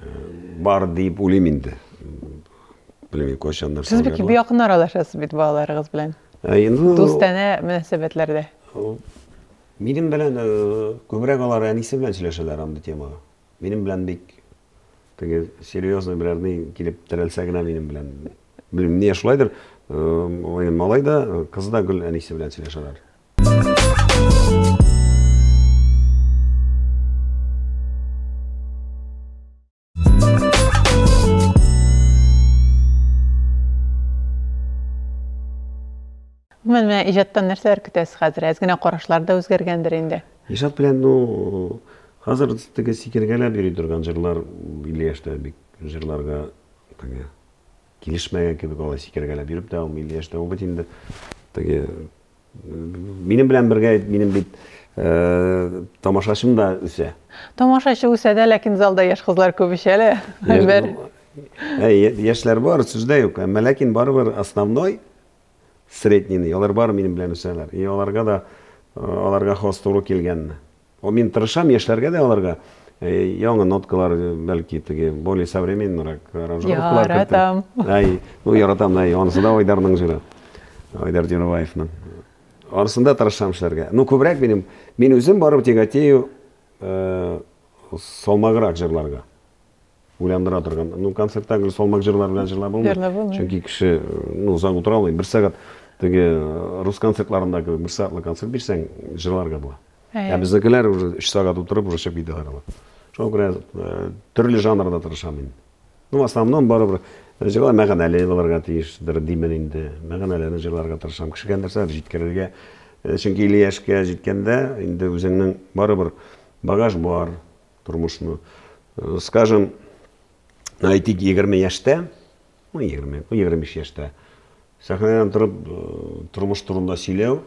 Э, бар дип уйлыйм инде. Белмим, кайчан нәрсә. Сез бик якын аралашасыз бит балаларыгыз белән. Э, инде дустана мөнәсәбәтләрдә. Э, минем белән күбрәк алар әнисе белән сөйләшәләр андый темага. Минем белән бик Теге серьезный берәр ни килеп терәлсә генә минем белән. Белмим, нигә шулайдыр, э, малай да, э, кыз да гөл әнисе белән сөйләшәләр. Гомумән, менә иҗаттан нәрсәләр көтәсез хәзер? Әз генә карашлар да үзгәргәндер инде. Илшат белән ну хәзер теге сикергәләп йөри торган җырлар 50 яшьтә бик җырларга теге килешмәгән кебек алай сикергәләп йөреп тә 50 яшьтә ул бит инде теге минем белән бергә минем бит э, тамашачым да үсә. Тамашачы үсә дә, ләкин залда яшь кызлар күп ич әле. Бер. Яшьләр бар, сүз дә юк. Әмма ләкин барыбер основной среднийны, алар бары минем белән үсәләр, и аларга да аларга хас туры килгәнне. О, мин тырышам яшьләргә дә аларга яңа ноткалар, бәлки теге более современныйрак аранжировкалар кертеп. Яратам. Әй, ну яратам, әй, анысы да Айдарның җыры. Айдар Дюрваевның. Арасында тырышам эшләргә. Ну, күбрәк минем, мин үзем барып тяготею салмаграк җырларга. уйландыра торган. Ну, концертта гел салмак җырлар белән җырлап булмый. Верно, булмый. Чөнки кеше, ну, озак утыра алмый. Бер сәгать теге э, рус концертларында кебек бер сәгатьлек концерт бирсәң, җырларга була. Ә безнекеләр уже 3 сәгать утырып уже чыгып китәләр алар. Шуңа күрә э, төрле жанрда тырышам мин. Ну, в основном барыбер э, җырлар мәгънәле булырга тиештер, димен инде. Мәгънәләрне җырларга тырышам. Кешегә нәрсә җиткерергә. Чөнки 50 яшькә җиткәндә инде үзеңнең барыбер багаж бар, тормышны. Э, скажем, ну, әйтик, 20 яшьтә, ну, 20, 25 яшьтә, сәхнәдән торып, э, тормыш турында сөйләү,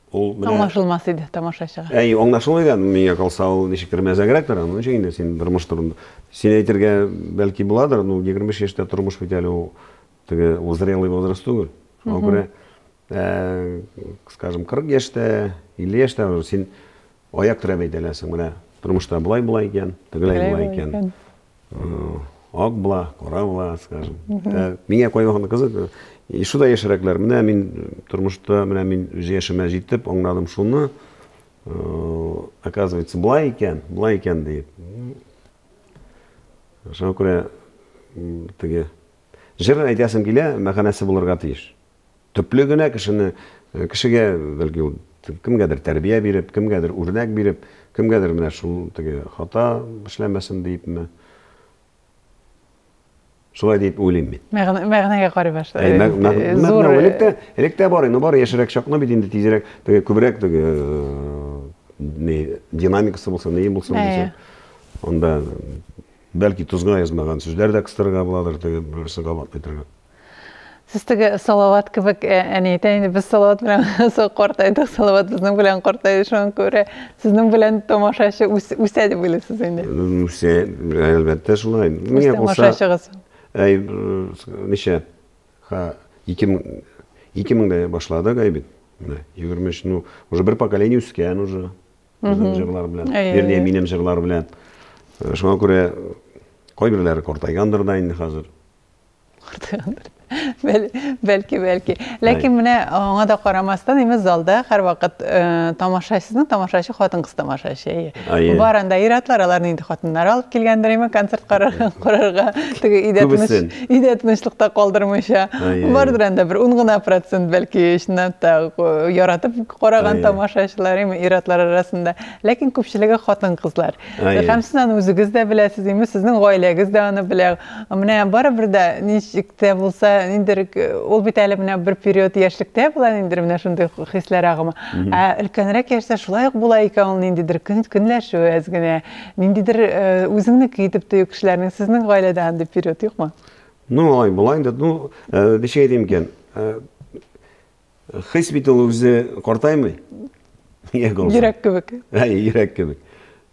ул менә аңлашылмас иде тамашачыга әй аңлашылмый да миңа калса ул ничектер мәзәгрәктер аның өчен инде син тормыш турында син әйтергә бәлки буладыр ну егерме биш яшьтә тормыш бит әле ул теге ул зрелый возраст түгел шуңа күрә Ә, скажем, 40 яшьтә, 50 яшьтә уже син аяк терәп әйтә беләсең, менә тормышта болай болай икән, тегеләй Тегеләй болай болай икән. икән. Э, Ак була, кара була, скажем. Ә, Миңа кайвакыт кызык, э, и шуда яшьрәкләр, менә мин э, тормышта, менә мин үз яшемә җитеп аңладым шуны, э, оказывается, болай икән, болай икән диеп. Шуңа күрә м, теге җыр әйтәсем килә, мәгънәсе булырга тиеш. Төпле генә кешене, кешегә, бәлки, ул кемгәдер тәрбия биреп, кемгәдер үрнәк биреп, кемгәдер менә шул теге хата эшләмәсен диепме? Шулай дип уйлыйм мин. Мәгънәгә карый башлый. Э, Мәгънә э, электә, электә бар инде, бар яшерәк чакны бит инде тизрәк, теге күбрәк теге э, не динамикасы булса, не булсын дисә. Анда бәлки тузга язмаган сүзләр дә кыстырырга буладыр, теге берсе кабат әйтергә. Сез теге Салават кебек, э, әни әйтә инде, без Салават белән со картайдык, Салават безнең белән картайды, шуңа күрә сезнең белән тамашачы үсә дип уйлыйсыз инде. Үсә, әлбәттә шулай. Үз тамашачыгыз. Әй, ничә? Ха, 2000 2000дә башладык әй бит. Менә 23, ну, уже бер поколение үскән уже. Безнең җырлар белән. Вернее, минем җырлар белән. Э, шуңа күрә кайберләре картайгандыр да инде хәзер. бәлки бәлки ләкин менә аңа да карамастан именно залда һәрвакыт э, тамашачысының тамашачы хатын кыз тамашачы бар анда ир атлар аларны инде хатыннары алып килгәндер именно концерт карарга теге өйдә тыныч өйдә тынычлыкта калдырмыйча бардыр анда бер ун гына процент бәлки чыннан да э, яратып караган тамашачылар именно ир атлар арасында ләкин күпчелеге хатын кызлар һәм сез аны үзегез дә беләсез именно сезнең гаиләгез дә аны белә Менә барыбер дә ничек тә булса, ниндер ул бит әле менә бер период яшьлектә була, ниндер менә шундый хисләр агымы. Ә өлкәнрәк яшьтә шулай ук була икән ул ниндидер көн, көнләшү әз генә, ниндидер үзеңнеке итеп тою кешеләрнең. Сезнең гаиләдә андый период юкмы? Ну, алай була инде. Ну, ничек әйтим икән? Хис бит ул үзе картаймый. Йөрәк кебек. Әй, йөрәк кебек.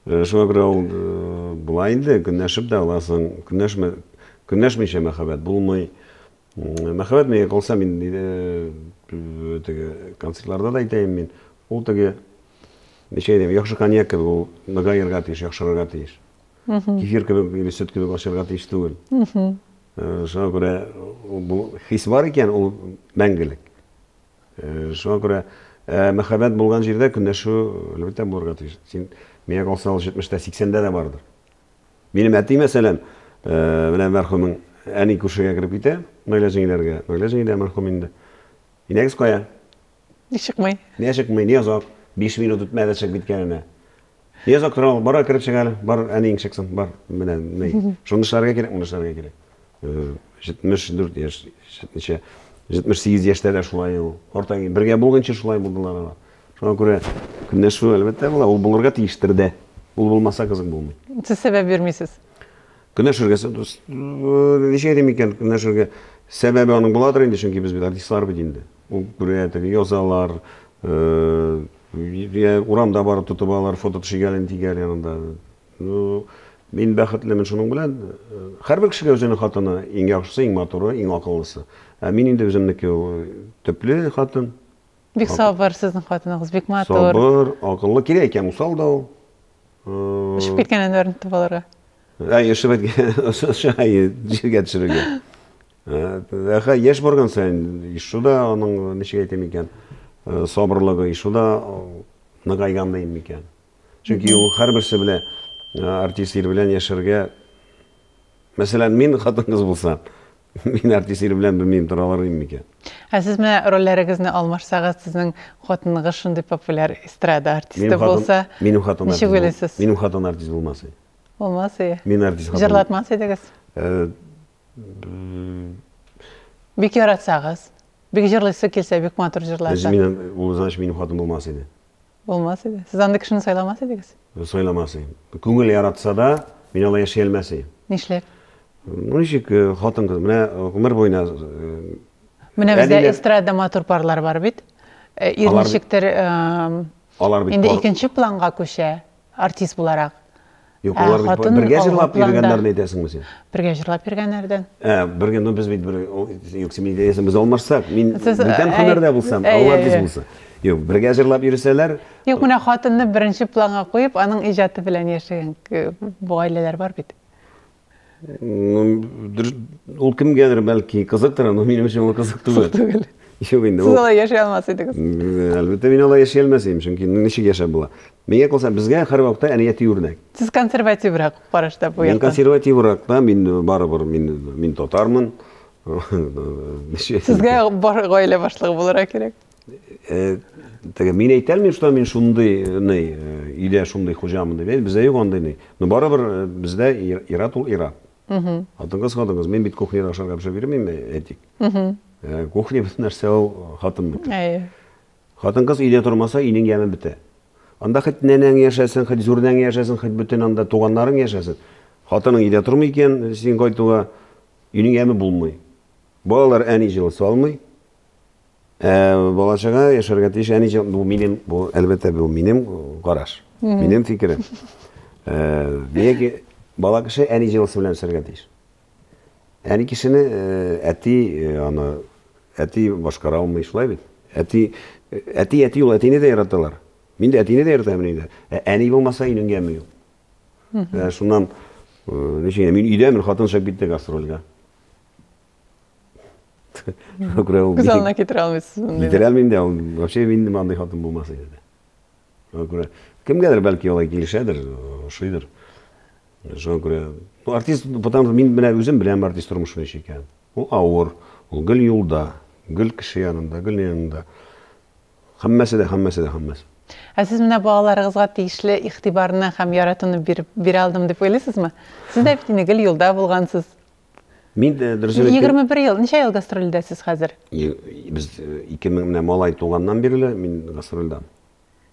Э, шуңа күрә ул э, болай инде көнләшеп дә аласың көнләшмә көнләшмичә мәхәббәт булмый мәхәббәт миңа калса мин э, теге концертларда да әйтәем мин ул теге ничә әйтәм яхшы коньяк кебек ул ныгаерга тиеш яхшырырга тиеш кефир кебек или сөт кебек ачарга тиеш түгел Шуңа күрә бу хис бар икән, ул мәңгелек. Шуңа күрә мәхәббәт булган җирдә көнләшү әлбәттә булырга тиеш. Син миңа калса ул 70-тә, 80-дә дә бардыр. Минем әти, мәсәлән, белән мәрхүмең әни күршегә кереп китә, Наилә җиңгиләргә. Наилә җиңгиләр мәрхүм инде. Инәгез кая? Ни чыкмый? Ни чыкмый, ни озак? Биш минут үтмәде чык биткәненә. Ни озак тора ул, бара кереп чык әле, бар, әниең чыксын, бар, менә, ни. Шуны эшләргә кирәк, моны эшләргә кирәк. 74 э, яшь, ничә, 78 яшьтә дә шулай ул. Орта бергә булганчы шулай булдылар алар. Шуңа күрә көнләшү әлбәттә була, ул булырга тиештер дә. Ул булмаса кызык булмый. Сез сәбәп бирмисез. Көнләшергә, ничә әйтим икән, көнләшергә. Сәбәбе аның буладыр инде, чөнки без бит артистлар бит инде. Күрәдер, язалар, йә урамда барып тотып алалар, фото төшегәлен тигәр янында. Ну, мин бәхетлемен шуның белән. Һәрбер кешегә үзенең хатыны иң яхшысы, иң матуры, иң акыллысы. Ә мин инде үземнеке төпле хатын. Бик сабыр сезнең хатыныгыз, бик матур. Сабыр, акыллы, кирәк икән, усал да ул. Өшеп киткән әнвәрне тотып алырга. Әй, өшеп әткән, җиргә төшерергә. Әхә яшь барган саен ишу да аның ничек әйтим икән, сабырлыгы ишу да ныгайган дим микән. Чөнки ул һәрберсе белән артист ир белән яшәргә Мәсәлән, мин хатын-кыз булса, мин артист ир белән белмим тора алар идем микән? Ә сез менә рольләрегезне алмашсагыз, сезнең хатыныгыз шундый популяр эстрада артисты булса, минем хатыным ничек уйлыйсыз? Минем хатыным артист булмас иде. Булмас иде. Мин артист хатын. Җырлатмас идегез? Бик яратсагыз, бик җырлыйсы килсә, бик матур җырлар. Без минем, ул значит минем хатын булмас иде. Булмас иде. Сез андый кешене сайламас идегез? Сайламас идем. Күңел яратса да, мин алай яши алмас идем. Нишләп? Ну ничек э, хатын кыз, менә э, гомер буена э, Менә бездә эстрада матур парлар бар бит. Ир ничектер алар бит инде икенче планга күчә. Артист буларак. Юк, алар бит бергә җырлап йөргәннәрне әйтәсеңме син? Бергә җырлап йөргәннәрдән. Ә, бергә, ну без бит бер, юк, син әйтәсең, без алмашсак, мин бүтән һөнәрдә булсам, алар без булса. Юк, бергә җырлап йөрсәләр. Юк, менә хатынны беренче планга куеп, аның иҗаты белән яшәгән гаиләләр бар бит. Ул кемгәдер бәлки кызыктыр, но минем өчен ул кызык түгел. Кызык түгел. Юк инде. Сез алай яши алмас идегез. Әлбәттә, мин алай яши алмас идем, чөнки ничек яшәп була. Миңа калса, безгә һәрвакытта әният үрнәк. Сез консервативрак карашта бу якта. Мин консервативрак та, мин барыбер мин мин татармын. Сезгә бар гаилә башлыгы булырга кирәк. Э, теге мин әйтә алмыйм что мин шундый э, ни э, өйдә шундый хуҗамын дип әйт бездә юк андый ни но барыбер бездә ира тул ира хатынкыз хатынкыз мин бит кухняда ашарга пешереп йөрмим әйтик кухня бит нәрсә ул хатынныкы әйе хатынкыз өйдә тормаса өйнең яме бетә анда хоть нәнәң яшәсен хоть зурнәң яшәсен хоть бөтен анда туганнарың яшәсен хатының өйдә тормый икән син кайтуга өйнең яме булмый балалар әни җылы салмый Балачага яшәргә тиеш, әни җан, бу минем, бу әлбәттә бу минем караш, минем фикерем. Яки бала кеше әни җылысы белән үсәргә тиеш. Әни кешене әти аны әти башкара алмый шулай бит. Әти әти әти ул әтине дә яраталар. Мин дә әтине дә яратам инде. Әни булмаса инең яме юк. Шуннан ничек мин өйдә мин хатын чыгып китте гастрольгә. Күз алдына китерә алмыйсыз мондый. Китерә алмыйм да, вообще мин нема андый хатын булмас иде дә. Шуңа күрә кемгәдер бәлки алай килешәдер, ошыйдыр. Шуңа күрә ну артист, потому мин менә үзем беләм артист тормышы ничек икән. Ул авыр, ул гел юлда, гел кеше янында, гел янында. Һәммәсе дә, һәммәсе дә, һәммәсе. Ә сез менә балаларыгызга тиешле игътибарны һәм яратуны биреп бирә алдым дип уйлыйсызмы? Сез дә бит инде гел юлда булгансыз. Мин э, дөрес әйткән. Егерме бер ел, ничә ел гастрольдә сез хәзер? Без э, ике мең менә малай туганнан бирле мин гастрольдә.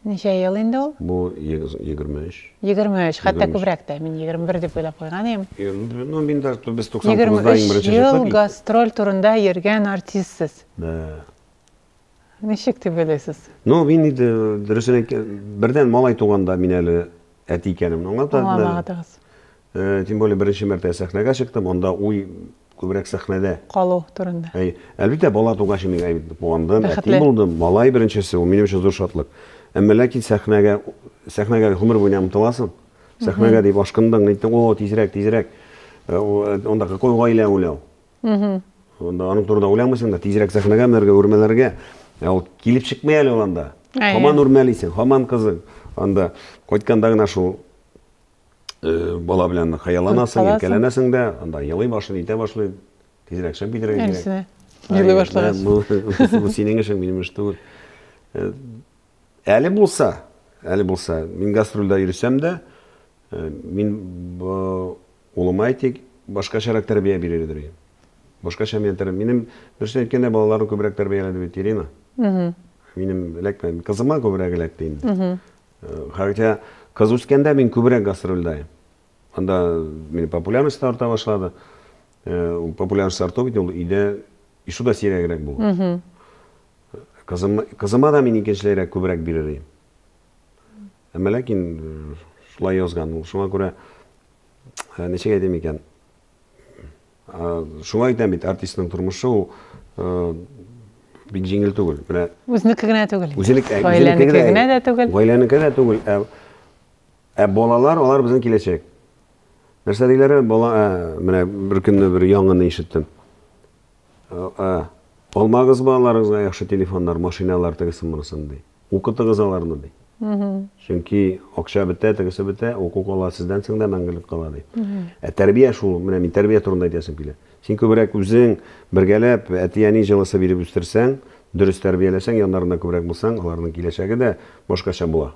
Ничә ел инде ул? Бу егерме өч. Егерме өч, хәтта күбрәк тә, мин егерме бер дип уйлап куйган идем. Ну, мин дә без туксан тугызда иң беренче чыктык. Егерме өч ел гастроль турында йөргән артистсыз. Да. Ничек дип уйлыйсыз? Ну, мин инде дөресен әйткән, бердән малай туганда мин әле әти икәнемне аңлатмадым. Аңламадыгыз. Э, тем более беренче мәртәбә сәхнәгә чыктым, анда уй күбрәк сәхнәдә. Калу турында. Әй, әлбәттә, бала тугач мин әйт куандым, әти булдым, малай беренчесе, ул минем өчен зур шатлык. Әмма ләкин сәхнәгә сәхнәгә гомер буена омтыласың. Сәхнәгә дип ашкындың, әйттең, о, тизрәк, тизрәк. Э, э, анда какой гаилә уйлау? Анда аның турында уйламыйсың да, тизрәк сәхнәгә менәргә, үрмәләргә. Ә ул килеп чыкмый әле ул анда. Һаман үрмәлисең, һаман кызың. Анда кайтканда гына шул э, бала белән хыялланасың, иркәләнәсең дә, анда елый башлый, итә башлый. Тизрәк чыгып китәргә кирәк. Елый башлагач. Бу синең эшең, минем эш түгел. Э, әле булса, әле булса, мин гастрольдә йөрсәм дә, э, мин Улыма әйтик, башкачарак тәрбия бирергедер ем. Башкача миңа тәрбия. Минем, дөресен әйткәндә, балаларны күбрәк тәрбияләде бит Ирина. Минем эләкмә, кызыма күбрәк эләкте инде. Хәтя кыз үскәндә мин күбрәк гастрольдә идем. Анда минем популярность та арта башлады. Ул популярность арту бит ул өйдә ишу да сирәгрәк булды. Кызым, кызыма да мин икенчеләйрәк күбрәк бирер идем. Әмма ләкин э, шулай язган ул. Шуңа күрә э, ничек әйтим икән? Шуңа әйтәм бит, артистның тормышы ул э, бик җиңел түгел. Менә үзенеке генә түгел. Үзенеке генә дә түгел. Гаиләнеке дә түгел. Ә, ә балалар, алар безнең киләчәк. Нәрсә диләр? Бала, менә бер көнне бер яңаны ишеттем. Алмагыз балаларыгызга яхшы телефоннар, машиналар тегесен монысын ди. Укытыгыз аларны, ди. Чөнки акча бетә, тегесе бетә, уку кала сездән соң да мәңгелек кала, ди. Ә тәрбия шул, менә мин тәрбия турында әйтәсем килә. Син күбрәк үзең бергәләп әти-әни җылысы биреп үстерсәң, дөрес тәрбияләсәң, яннарында күбрәк булсаң, аларның киләчәге дә башкача була.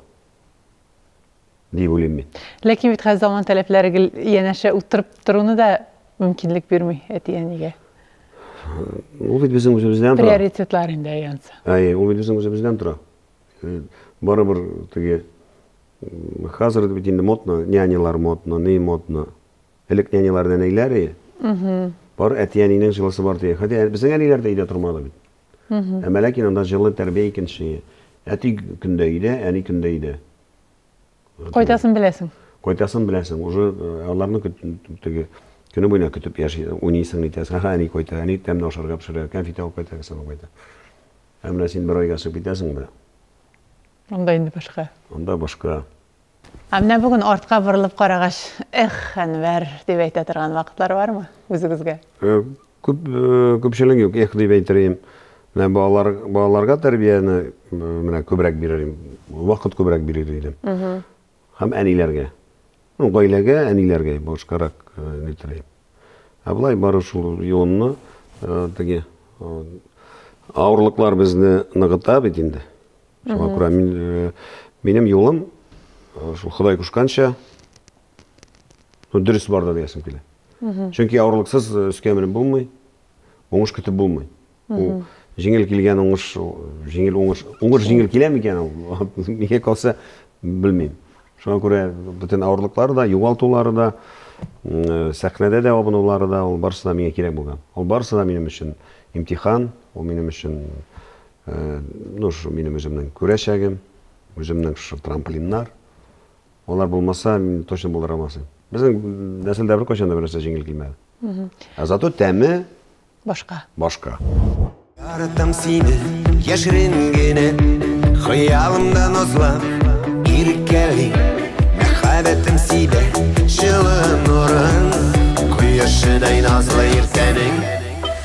дип уйлыйм мин. Ләкин бит хәзер заман таләпләре гел янәшә утырып торуны да мөмкинлек бирми әти-әнигә. Ул бит безнең үзебездән тора. Приоритетлар инде янса. Әйе, ул бит безнең үзебездән тора. Э, барыбер теге хәзер бит инде модно, нянялар модно, ни модно. Элек нянялар нәнәйләр и Бар әти әнинең җылысы бар дигән. Хәтта безнең әниләр дә өйдә тормады бит. Ә мэләкин анда җылы тәрбия икенче. Әти көндә өйдә, әни көндә өйдә. Кайтасын беләсең. Кайтасын беләсең. Уже аларны теге көне буена көтеп яши, уйныйсың итәсең. Ага, әни кайта, әни тәмле ашарга пешерә, кәнфит алып кайта, кесәп кайта. Ә менә син бер айга чыгып китәсең дә. Анда инде башка. Анда башка. Ә менә бүген артка борылып карагач, Эх, Әнвәр, дип әйтә торган вакытлар бармы үзегезгә? Күп, күпчелек юк, эх, дип әйтер идем. Менә балалар, балаларга тәрбияне менә күбрәк бирер идем. Вакыт күбрәк бирер идем. Һәм әниләргә. Ну, гаиләгә, әниләргә башкарак нитер идем. Ә болай бары шул юынны, теге авырлыклар безне ныгыта бит инде. Шуңа күрә мин, э, минем юлым э, шул Ходай кушканча ну, дөрес барда диясем килә. Чөнки авырлыксыз э, өскә менеп булмый, уңыш көтеп булмый. Ул җиңел килгән уңыш, җиңел уңыш, уңыш җиңел килә микән ул? Мигә калса, белмим. Шуңа күрә бөтен авырлыклары да, югалтулары да, э, сәхнәдә дә абынулары да, ул барысы да миңа кирәк булган. Ул барысы да минем өчен имтихан, ул минем өчен Ну, шо минем үземнең күрәчәгем, үземнең шо трамплиннар. Алар булмаса, мин точно булдыра алмас идем. Безнең нәселдә беркайчан да бернәрсә җиңел килмәде. Ә зато тәме башка. Башка. Яратам сине, яшерен генә, хыялымда назлап, иркәли. Мәхәббәтем сибә, җылы нурын, кояшыдай назлы иртәнең.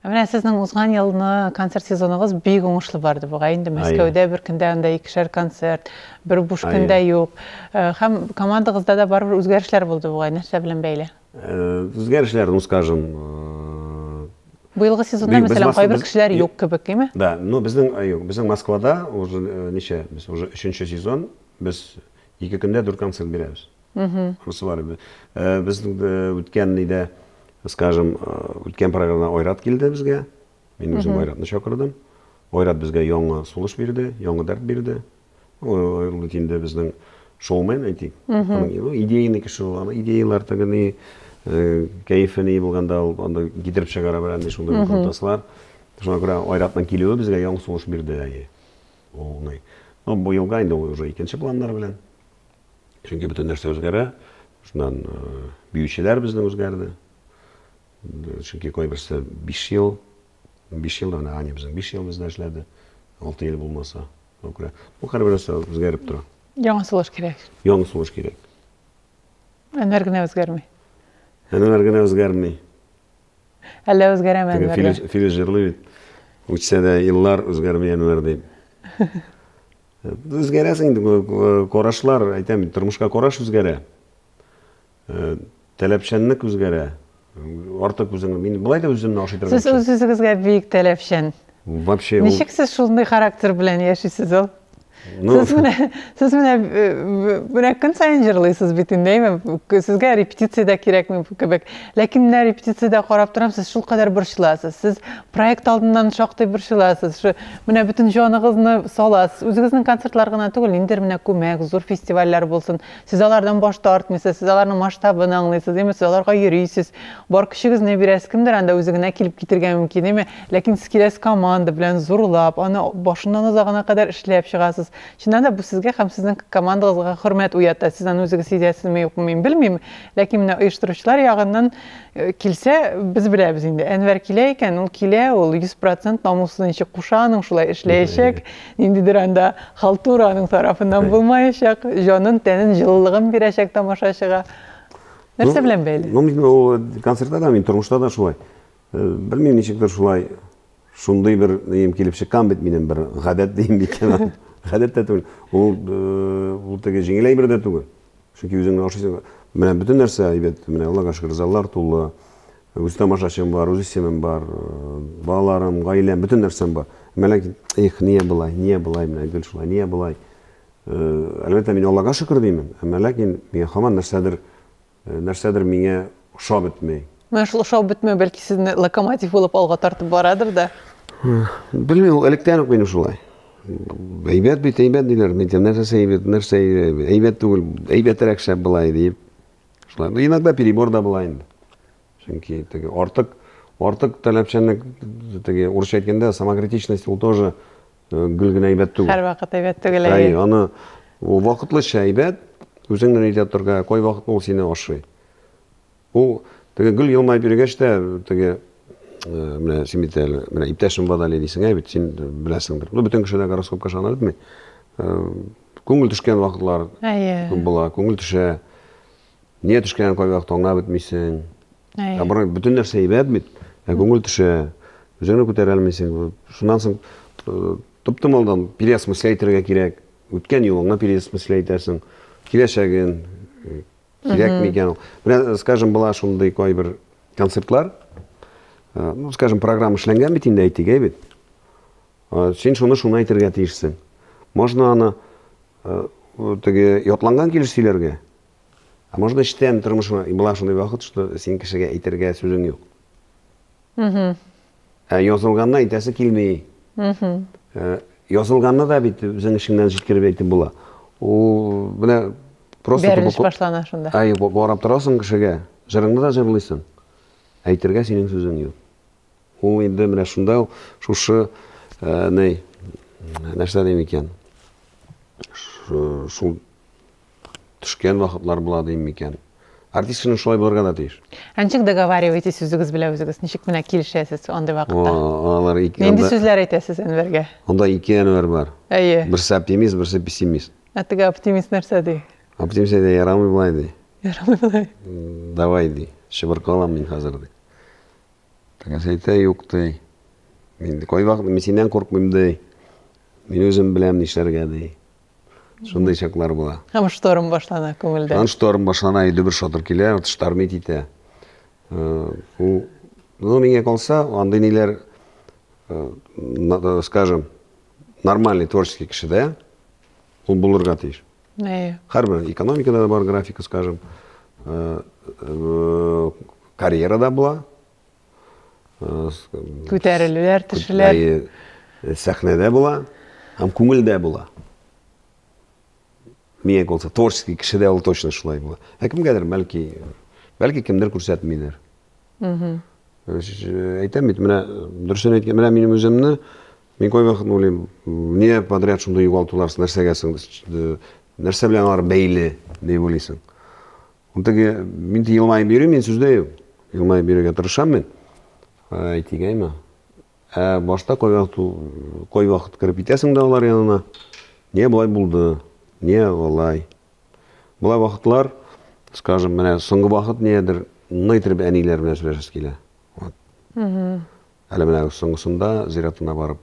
Ә менә сезнең узган елны концерт сезоныгыз бик уңышлы барды бугай. Инде Мәскәүдә бер көндә анда икешәр концерт, бер буш көн дә юк. Һәм командагызда да барыбер үзгәрешләр булды бугай. Нәрсә белән бәйле? Үзгәрешләр, ну скажем, Быелгы сезонда, мәсәлән, кайбер кешеләр юк кебек, име? Да, ну безнең, юк, безнең Москвада уже ничә, без уже өченче сезон, без ике көндә дүрт концерт бирәбез. Шунысы бар инде. Без үткән нидә, скажем, үткән программада Айрат килде безгә. Мин үзем Айратны чакырдым. Айрат безгә яңа сулыш бирде, яңа дәрт бирде. Ул бит инде безнең шоумен, әйтик. Идейный кеше ул. Аны идеяләр теге ни, кәефе ни булганда ул анда китереп чыгара белә нди шундый процесслар. Шуңа күрә Айратның килүе безгә яңа сулыш бирде әйе. Ул уңай. Ну, бу елга инде ул уже икенче планнар белән. Чөнки бөтен нәрсә үзгәрә. Шуннан биючеләр безнең үзгәрде. Чөнки кайберсе 5 ел, 5 ел менә Аня безнең 5 ел бездә эшләде. 6 ел булмаса, күрә. Бу һәрбер нәрсә үзгәреп тора. Яңа сулыш кирәк. Яңа сулыш кирәк. Әнвәр генә үзгәрми. Әнвәр генә үзгәрми. Әллә үзгәрәме Әнвәр? Филис җырлый бит. Үтсә дә еллар үзгәрми Әнвәр дип. Үзгәрәсең, карашлар, әйтәм, тормышка караш үзгәрә. Таләпчәнлек үзгәрә. Артык үзең, мин былай да үземне ашый торган. Сез үз-үзегезгә бик таләпчән. Вообще. Ничек сез шундый характер белән яшисез ул? Сез менә, сез менә менә көн саен җырлыйсыз бит инде, әйме? Сезгә репетиция дә кирәкми кебек. Ләкин менә репетициядә карап торам, сез шулкадәр борчыласыз. Сез Проект алдыннан шактый борчыласыз. Шу менә бөтен җаныгызны саласыз. Үзегезнең концертлар гына түгел, ниндидер менә күмәк, зур фестивальләр булсын. Сез алардан баш тартмыйсыз, сез аларның масштабын аңлыйсыз, име, сез аларга йөрисез, бар көчегезне бирәсез. Кемдер анда үзе генә килеп китергә мөмкин, име, ләкин сез киләсез команда белән, зурлап, аны башыннан азагына кадәр эшләп чыгасыз. Чыннан да, бу сезгә һәм сезнең командагызга хөрмәт уята. Сез аны үзегез сизәсезме, юкмы, мин белмим, ләкин менә оештыручылар ягыннан Килсә, без беләбез инде. Әнвәр килә икән, ул килә, ул 100% намуслы ничек куша аның шулай эшләячәк. Ниндидер анда халтура аның тарафыннан булмаячак. Җанын, тәнен, җылылыгын бирәчәк тамашачыга. Нәрсә белән бәйле? Ну, мин ул концертта да, мин тормышта да шулай. Белмим, ничектер шулай шундый бер ним килеп чыккан бит минем бер гадәт дим микән. Гадәт тә түгел. Ул ул теге җиңел әйбер дә түгел. Чөнки үзең генә ашыйсың. Менә бөтен нәрсә әйбәт. Менә Аллага шөкер, заллар тулы. Үз тамашачым бар, үз исемем бар, э, балаларым, гаиләм, бөтен нәрсәм бар. Әмма ләкин, эх, нигә болай, нигә болай менә гел шулай, нигә болай? Э, әлбәттә, мин Аллага шөкер димим. Әмма ләкин миңа һаман нәрсәдер, э, нәрсәдер миңа ошап бетмәй. Менә шул ошау бетмәү бәлки сезне локомотив булып алга тартып барадыр да. Белмим, ул электән үк минем шулай. Әйбәт бит, әйбәт диләр. Мин тем нәрсәсе әйбәт, нәрсә әйбәт түгел, әйбәтрәк шәп була диеп. Шулай. Ну, иногда перебор да була инде. Чөнки теге артык артык таләпчәнлек теге урысча әйткәндә самокритичность ул тоже э, гел генә әйбәт түгел. Һәр вакыт әйбәт түгел. Әй, аны ул вакытлыча әйбәт, үзеңнән әйтә торга, кай вакыт ул сине ашый. Ул теге гел елмаеп йөргәч тә, теге менә син бит әле, менә иптәшем Вадали дисең, ә бит син беләсеңдер. Ну, бөтен кеше дә гороскопка ышана бетми. Күңел төшкән вакытлар күп була, күңел төшә. Нигә төшкәнен кайвакыт аңлап бетмисең. Ә бары бөтен нәрсә әйбәт бит, ә күңел төшә. Үзеңне күтәрә алмыйсың. Шуннан соң топтымалдан переосмыслять итәргә кирәк. Үткән юлыңны переосмыслять итәрсең. Киләчәген, Кирәкми икән ул. Менә, скажем, була шундый кайбер концертлар. Э, ну, скажем, программа эшләнгән бит инде, әйтик, әйбит. Э, син шуны шуны әйтергә тиешсең. Можно аны э, теге ятланган килеш сөйләргә. А можно эчтән тормышына, була шундый вакыт, что син кешегә әйтергә сүзең юк. Ә язылганны әйтәсе килми. Ә, язылганны да бит үзең эшеңнән җиткереп әйтеп була. Ул менә просто Бәрелеш башлана шунда. Ай, барып торасың кешегә, җырыңны да җырлыйсың. Әйтергә синең сүзең юк. Ул инде менә шунда шушы ә, нәрсә дим икән? Шул Төшкән вакытлар була дим микән? Артист кешенең шулай булырга да тиеш. Ә ничек договариваетесь үзегез белән үзегез? Ничек менә килешәсез андый вакытта? О, алар ике Нинди анда, сүзләр әйтәсез Әнвәргә? анда ике Әнвәр бар. Әйе. Берсе оптимист, берсе пессимист. Ә теге оптимист нәрсә ди? Оптимист әйтә, ярамый болай ди. Ярамый болай. Давай ди, чыбыркалам мин хәзер ди. Тегесе әйтә, юк ди. Мин ди, кайвакыт мин синнән куркмыйм ди. Мин үзем беләм нишләргә ди. Шундый чаклар була. Һәм шторм башлана күңелдә. Һәм шторм башлана, иде бер шатыр килә, вот штормит итә. Э, ул, ну, миңа калса, андый ниләр, э, э, скажем, нормальный творческий кешедә, ул булырга тиеш. Әйе. Һәрбер экономикада да бар графика, скажем, карьерада була, Күтәрелүләр, төшүләр. Э, сәхнәдә була һәм күңелдә була. Миңа калса, творческий кешедә ул точно шулай була. Ә кемгәдер, бәлки, бәлки кемдер күрсәтмидер. Угу. Э, әйтәм бит, менә дөресен әйткән, менә минем үземне мин кайвакыт уйлыйм, не подряд шундый югалтулар, нәрсәгә соң, нәрсә белән алар бәйле, дип уйлыйсың. Теге, мин елмаеп йөрим, мин сүздә юк. Елмаеп йөрергә тырышам мин. Әйтегәйме? Ә башта кой вакыт, кой вакыт кереп итәсең дә алар янына. Не болай булды? Не болай? Болай вакытлар, скажем, менә соңгы вакыт ниедер ны итеп әниләр белән сөйләшәсе килә. Вот. Әле менә соңгысында зиратына барып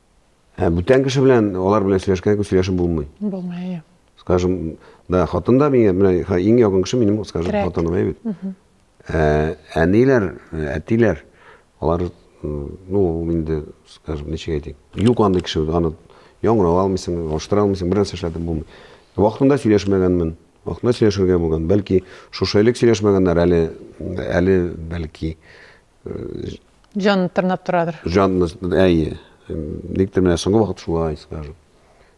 Ә бүтән кеше белән алар белән сөйләшкән кебек сөйләшеп булмый. Булмый, әйе. Скажем, да, хатын да миңа, менә иң якын кеше минем, скажем, хатыным, әйе бит. Ә, әниләр, әтиләр, алар, ну, инде, скажем, ничек әйтик, юк андый кеше, аны яңгырап алмыйсың, алыштыра алмыйсың, бер нәрсә эшләтеп булмый. Вакытында сөйләшмәгәнмен, вакытында сөйләшергә булган. Бәлки, шушы элек сөйләшмәгәннәр, әле, әле, бәлки, Җанны тырнап торадыр. Җанны, әйе. Никтер менә соңгы вакыт шулай, скажем.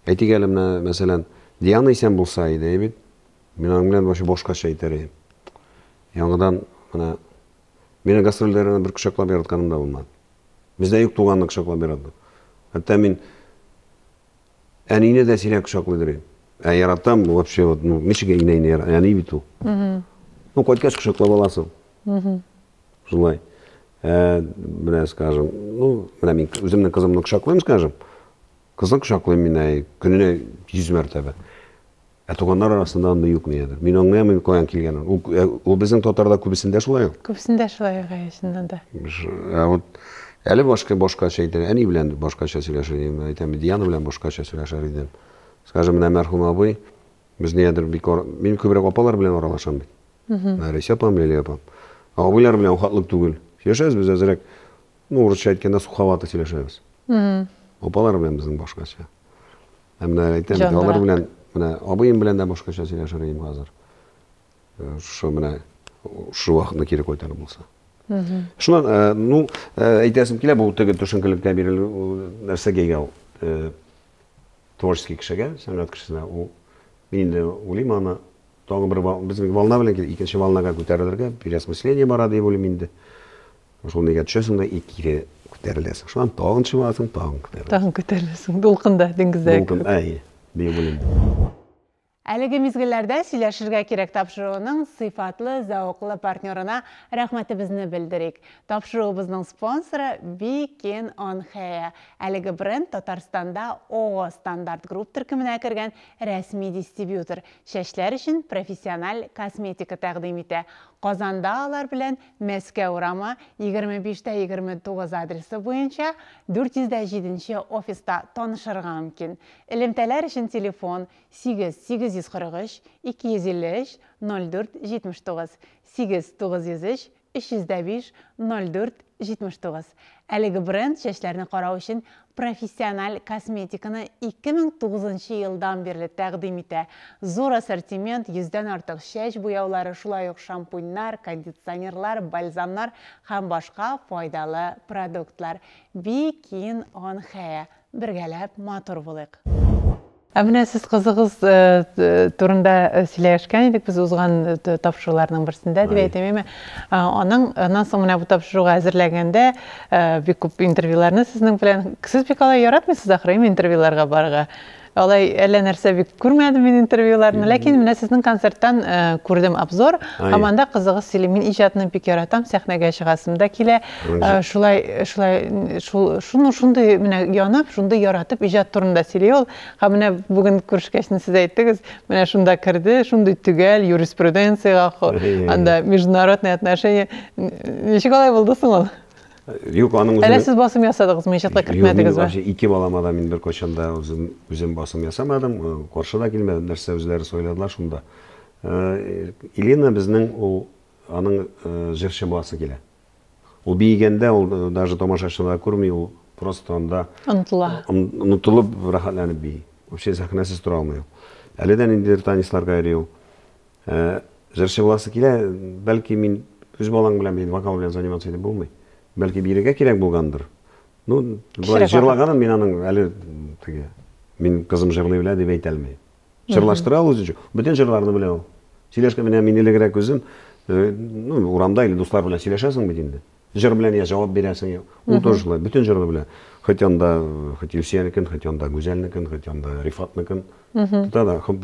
Әйтик әле менә, мәсәлән, Диана исән булса иде, әйбит. Мин аның белән вообще башкача әйтер идем. Яңадан менә мені гастрольдәренә бер кочаклап яратканым да булмады. Бездә юк туганны кочаклап ярату. Хәтта мин әнине дә сирәк кочаклыйдыр идем. Ә яратам вообще вот, ну, ничек инәйне яратам, әни бит ул. Ну, кайткач кочаклап аласың. Шулай. Ә, менә, скажем, ну, менә мин үземнең кызымны кочаклыйм, скажем, кызны кочаклыйм мин әй, көненә 100 мәртәбә. Ә туганнар арасында анда юк нигәдер. Мин аңламыйм каян килгәнен. Ул, ә, ул безнең татарда күбесендә шулай ул. Күбесендә шулай ул, әйе, да. Ә вот әле башка башкача әйтә, әни белән башкача сөйләшә идем, әйтәм, Диана белән башкача сөйләшә идем. Скажем, менә мәрхүм абый, Без нигәдер бик ара... Мин күбрәк апалар белән аралашам бит. Нәресә апам, Лилия апам. Абыйлар белән ухатлык түгел. Сөйләшәбез без әзрәк. Ну, урысча әйткәндә суховато сөйләшәбез. Апалар белән безнең башкача. Ә менә әйтәм, алар белән, менә абыем белән дә башкача сөйләшер идем хәзер. Э, шушы менә шушы вакытны кире кайтар булса. Шуннан, э, ну, э, әйтәсем килә, бу теге төшенкелеккә бирелү нәрсәгә ул? творческий кешегә, сәнгать кешесенә ул мин инде уйлыйм аны тагын бер безнең волна белән килеп икенче волнага күтәрелергә переосмысление бара дип уйлыйм инде шул нигә төшәсең дә и кире күтәреләсең шуннан тагын чыгасың тагын күтәреләсең тагын күтәреләсең дулкында диңгездә дулкын әй дип уйлыйм Әлеге мизгелләрдә Сөйләшергә кирәк тапшыруының сыйфатлы, зәвыклы партнерына рәхмәтебезне белдерик. Тапшыруыбызның спонсоры, Бикин он Хеа. Әлеге бренд Татарстанда ООО Стандарт Групп төркеменә кергән рәсми дистрибьютор, чәчләр өчен профессиональ косметика тәкъдим итә. Казанда алар белән Мәскәү урамы, 25 тә 29 адресы буенча, 400 дә 7 нче офиста танышырга мөмкин. Элемтәләр өчен телефон, Сигез, сигез йөз кырык өч, ике йөз илле өч, ноль дүрт, җитмеш тугыз. Сигез, тугыз йөз өч, өч йөз дә биш, ноль дүрт, җитмеш тугыз. Әлеге бренд чәчләрне карау өчен профессиональ косметиканы ике мең тугызынчы елдан бирле тәкъдим итә. Зур ассортимент, йөздән артык чәч буяулары, шулай ук шампуньнар, кондиционерлар, бальзамнар һәм башка файдалы продуктлар. Бикин он хеа. Бергәләп матур булыйк! Ә менә сез кызыгыз турында сөйләшкән идек без узган тапшыруларның берсендә дип әйтим яме. Аның аннан соң менә бу тапшыруга әзерләгәндә бик күп интервьюларны сезнең белән сез бик алай яратмыйсыз ахры ме интервьюларга барырга? Алай әллә нәрсә бик күрмәдем мин интервьюларны, ләкин менә сезнең концерттан күрдем обзор, һәм анда кызыгыз сөйли. Мин иҗатны бик яратам, сәхнәгә чыгасым да килә. Шулай, шулай, шул, шуны шундый менә янып, шундый яратып иҗат турында сөйли ул. Һәм менә бүген күрешкәч, сез әйттегез, менә шунда керде, шундый төгәл юриспруденциягә, анда международные отношения. Ничек алай булды соң ул? Юк, аның үзен... Әле сез басым ясадыгызмы, иҗатка кертмәдегез бә? Юк, ике балама да мин бер кайчан да үзем, үзем басым ясамадым, каршы да килмәдем, нәрсә үзләре сайладылар шунда. Елена безнең ул, аның җырчы буласы килә. Ул биегәндә ул даже тамашачылар күрми, ул просто анда онытыла. Онытылып, рәхәтләнеп бии. Вообще сәхнәсез тора алмый ул. Әле дә ниндидер танецларга йөри ул. Э, җырчы буласы килә, бәлки мин үз балаң белән бит вокал белән заниматься итеп булмый. Бәлки бирергә кирәк булгандыр. Ну, болай җырлаганын мин аның әле теге мин кызым җырлый белә дип әйтә алмыйм. Җырлаштыра ул үзенчә. Бөтен җырларны белә ул. Сөйләшкән менә мин элегрәк үзем э, ну, урамда или дуслар белән сөйләшәсең бит инде. Җыр белән я җавап бирәсең. Ул тоже шулай, бөтен җырны белә. Хоть анда, хоть Илсиянекен, хоть анда Гүзәлнекен, хоть анда Рифатныкын. Тота да, хоп,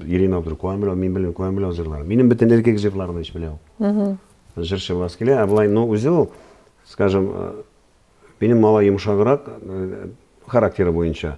Ирина Абдур куан белә, мин белән куан белә җырлар. Минем бөтен эркек җырларны ич белә ул. Җырчы буласы килә, ә болай, ну, үзе ул, скажем, э, минем малай йомшаграк э, характеры буенча.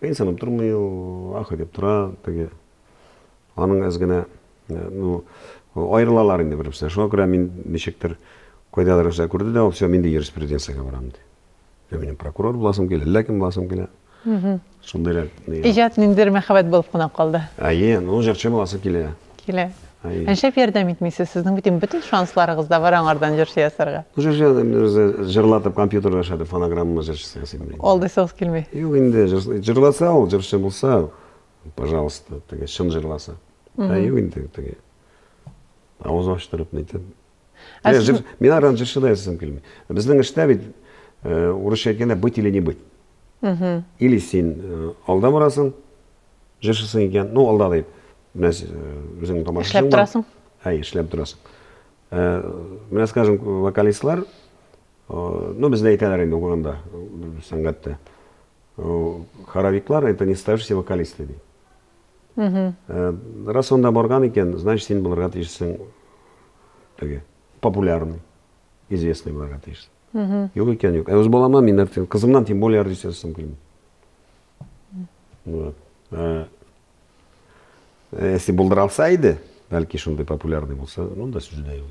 Кыенсынып тормый ул, ах дип тора, теге аның әз генә ну аерылалар инде бер-берсенә. Шуңа күрә мин ничектер кайдадыр нәрсә күрде дә, ул все миндә юриспруденциягә барам ди. Ә минем прокурор буласым килә, әллә кем буласым килә. Шундыйрак. Иҗат ниндидер мәхәббәт булып кына калды. Әйе, ну җырчы буласы килә. Килә. Нишләп ярдәм итмисез? Сезнең бит инде бөтен шансларыгыз да бар аңардан җырчы ясарга. Җырчы ясап, бераз җырлатып, компьютерда эшләтеп, фонограмма җырчысы ясыйм мин. Алдыйсыгыз килми? Юк инде, җырласа ул, җырчы булса, пожалуйста, теге чын җырласа. Ә юк инде, теге авыз ачтырып, нитеп, Ә Мен, сез- жыр, мен аранжиршы да ясасым килми. Безнең эштә бит, э, урысча әйткәндә, быть или не быть. Или син э, алда барасың, жыршысың икән, ну алда дип, менә сез, э, үзеңнең тамашачың Эшләп бар. торасың. Әй, эшләп торасың. Э, менә, скажем, вокалистлар, э, ну бездә әйтәләр инде укыганда, э, сәнгатьтә. Э, Хоровиклар это не ставшиеся вокалисты ди. Раз анда барган икән, значит, син булырга тиешсең теге популярный, известный булырга тиешсең. Юк икән, юк. Ә үз баламнан мин артист, кызымнан тем более артист ясасым килми. Вот. Ә, если булдыра алса иде, бәлки шундый популярный булса, ну да сүз дә юк.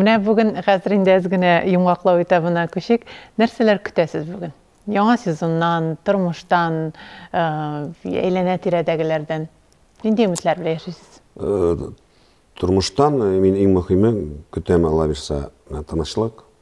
Менә бүген хәзер инде әз генә йомгаклау этабына күчик. Нәрсәләр көтәсез бүген? Яңа сезоннан, тормыштан, э, әйләнә тирәдәгеләрдән нинди өметләр белән яшисез? Э, тормыштан э, мин иң мөһиме көтәм Алла бирса, тынычлык,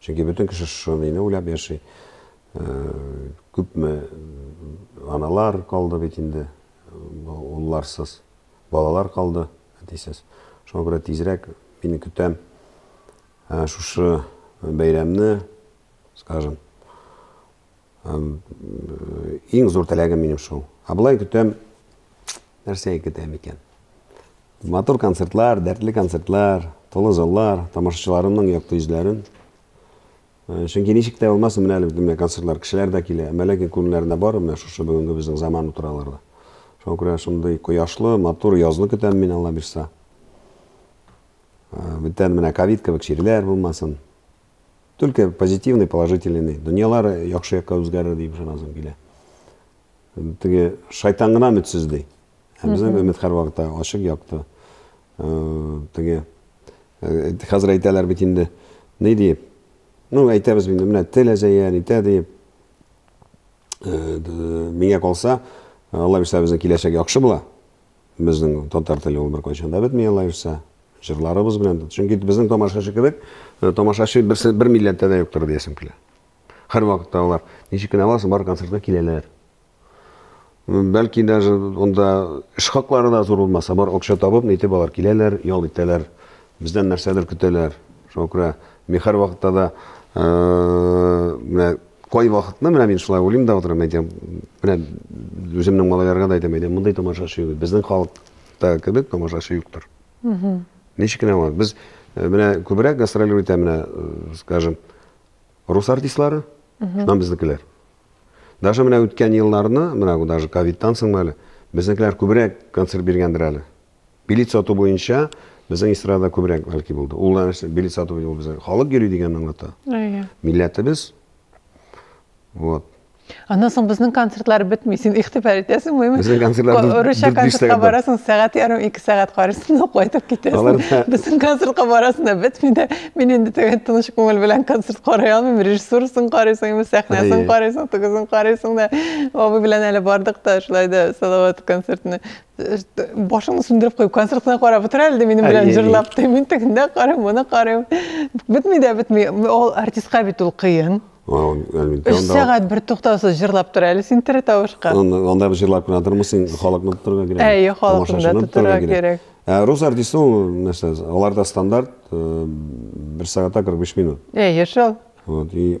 Чөнки бөтен кеше шуныйны уйлап яши. Күпме аналар калды бит инде, улларсыз, балалар калды, әтисез. Шуңа күрә тизрәк мин көтәм шушы бәйрәмне, скажем, Иң зур теләгем минем шул. Ә болай көтәм, нәрсә көтәм икән? Матур концертлар, дәртле концертлар, тулы заллар, тамашачыларымның якты йөзләрен. Э, чөнки ничек тә булмасын, менә әле менә концертлар, кешеләр дә килә. Әмма ләкин күңелләрендә бар менә шушы бүгенге безнең заман утыраларда. Шуңа күрә шундый кояшлы, матур язны көтәм мин Алла бирса. Э, бүтән менә ковид кебек чирләр булмасын. Только позитивный, положительный. Дөньялар яхшы якка үзгәрер дип ышанасым килә. Теге шайтан гына өметсез ди. Ә безнең өмет һәрвакытта ачык якты. Э, теге э, хәзер әйтәләр бит инде ни диеп. Ну, әйтәбез инде менә тел әзәя, нитә диеп. Э, миңа калса, Алла бирсә безнең киләчәк яхшы була. Безнең татар теле ул беркайчан да бетми алайса. Җырларыбыз белән дә. Чөнки безнең тамашачы кебек, э, тамашачы берсе бер милләттә дә юктыр диясем килә. Һәрвакытта алар ничек кенә аласың, бар концертка киләләр. Бәлки даже онда эш хаклары да зур булмаса, бар акча табып, нитеп алар киләләр, ял итәләр. Бездән нәрсәдер көтәләр. Шуңа күрә мин һәрвакытта да э, менә Кайвакытны менә мин шулай уйлыйм да утырам, әйтәм, менә үземнең малайларга да әйтәм, әйтәм, мондый тамашачы юк. Безнең халыкта кебек тамашачы юктыр. Ничек кенә булмасын. Без э, менә күбрәк гастролер итә менә, э, скажем, рус артистлары, шуннан безнекеләр. Даже менә үткән елларны, менә даже ковидтан соңмы әле, безнекеләр күбрәк концерт биргәндер әле. Билет сату буенча безнең эстрадада күбрәк бәлки булды. Ул нәрсә билет сату ул безнең халык йөри дигәнне аңлата. Әйе. Милләтебез. Вот. Аннан соң безнең концертлар бетми. Син игътибар итәсеңме? Безнең концертлар дүрт- Урысча дүрт-биш концертка сәгать бар. барасың, сәгать ярым, ике сәгать карыйсың, да кайтып китәсең. Алар да- Безнең концертка барасың да бетми дә. Мин инде теге тыныч күңел белән концерт карый алмыйм. Режиссурасын карыйсың, инде сәхнәсен Әйе. карыйсың, тегесен карыйсың да. Абый белән әле бардык та, шулай да Салават концертны башыңны сүндереп куеп концертына карап утыра әле минем белән җырлап ди мин тегендә карыйм моны карыйм бетми дә бетми ул артистка бит ул кыен өч сәгать бер туктаусыз җырлап тора әле син тере тавышка анда җырлап кына тормыйсың халыкны тотарга кирәк әйе халыкны да тотарга кирәк ә рус артисты ул нәрсә аларда стандарт бер сәгатьтә кырык биш минут әйе шул вот и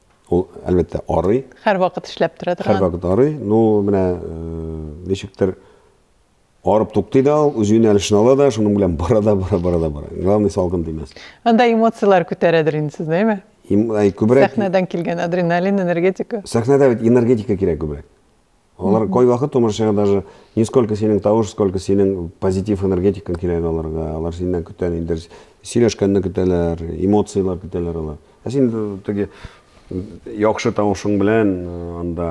Ул, әлбәттә, арый. Һәрвакыт эшләп тора торган. Һәрвакыт арый. Ну, менә э, ничектер арып туктый да ул, үз юнәлешен ала да, шуның белән бара да, бара, бара да, бара. Главный салкын тимәс. Анда эмоцияләр күтәрәдер инде сез, әйме? Күбрәк... Сәхнәдән килгән адреналин, энергетика. Сәхнәдә бит энергетика кирәк күбрәк. Алар кайвакыт томырчыга даже не сколько синең тавыш, сколько синең позитив энергетикаң кирәк аларга. Алар синнән көтә инде сөйләшкәнне көтәләр, эмоцияләр көтәләр алар. Ә син теге яхшы тавышың белән э, анда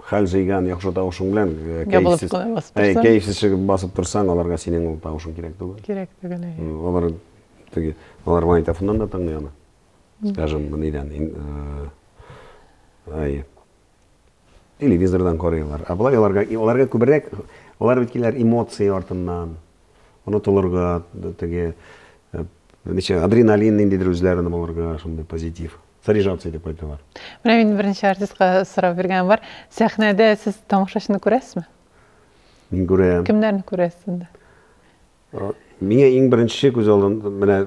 хәл җыйган яхшы тавышың белән э, кәефсез э, кәефсез чыгып басып торсаң, аларга синең ул тавышың кирәк түгел. Кирәк түгел. Алар теге алар магнитофоннан да тыңлый аны. Скажем, нидән? Ай, Телевизордан карыйлар. Ә болай аларга, аларга күбрәк, алар бит киләр эмоции артыннан. Онытылырга, теге, э, ничә, адреналин ниндидер үзләрен булырга, шундый позитив. Заряжаться итеп кайталар. Менә мин беренче артистка сорау биргән бар. Сәхнәдә сез тамашачыны күрәсезме? Мин күрәм. Кемнәрне күрәсез инде? Миңа иң беренче күз алдында менә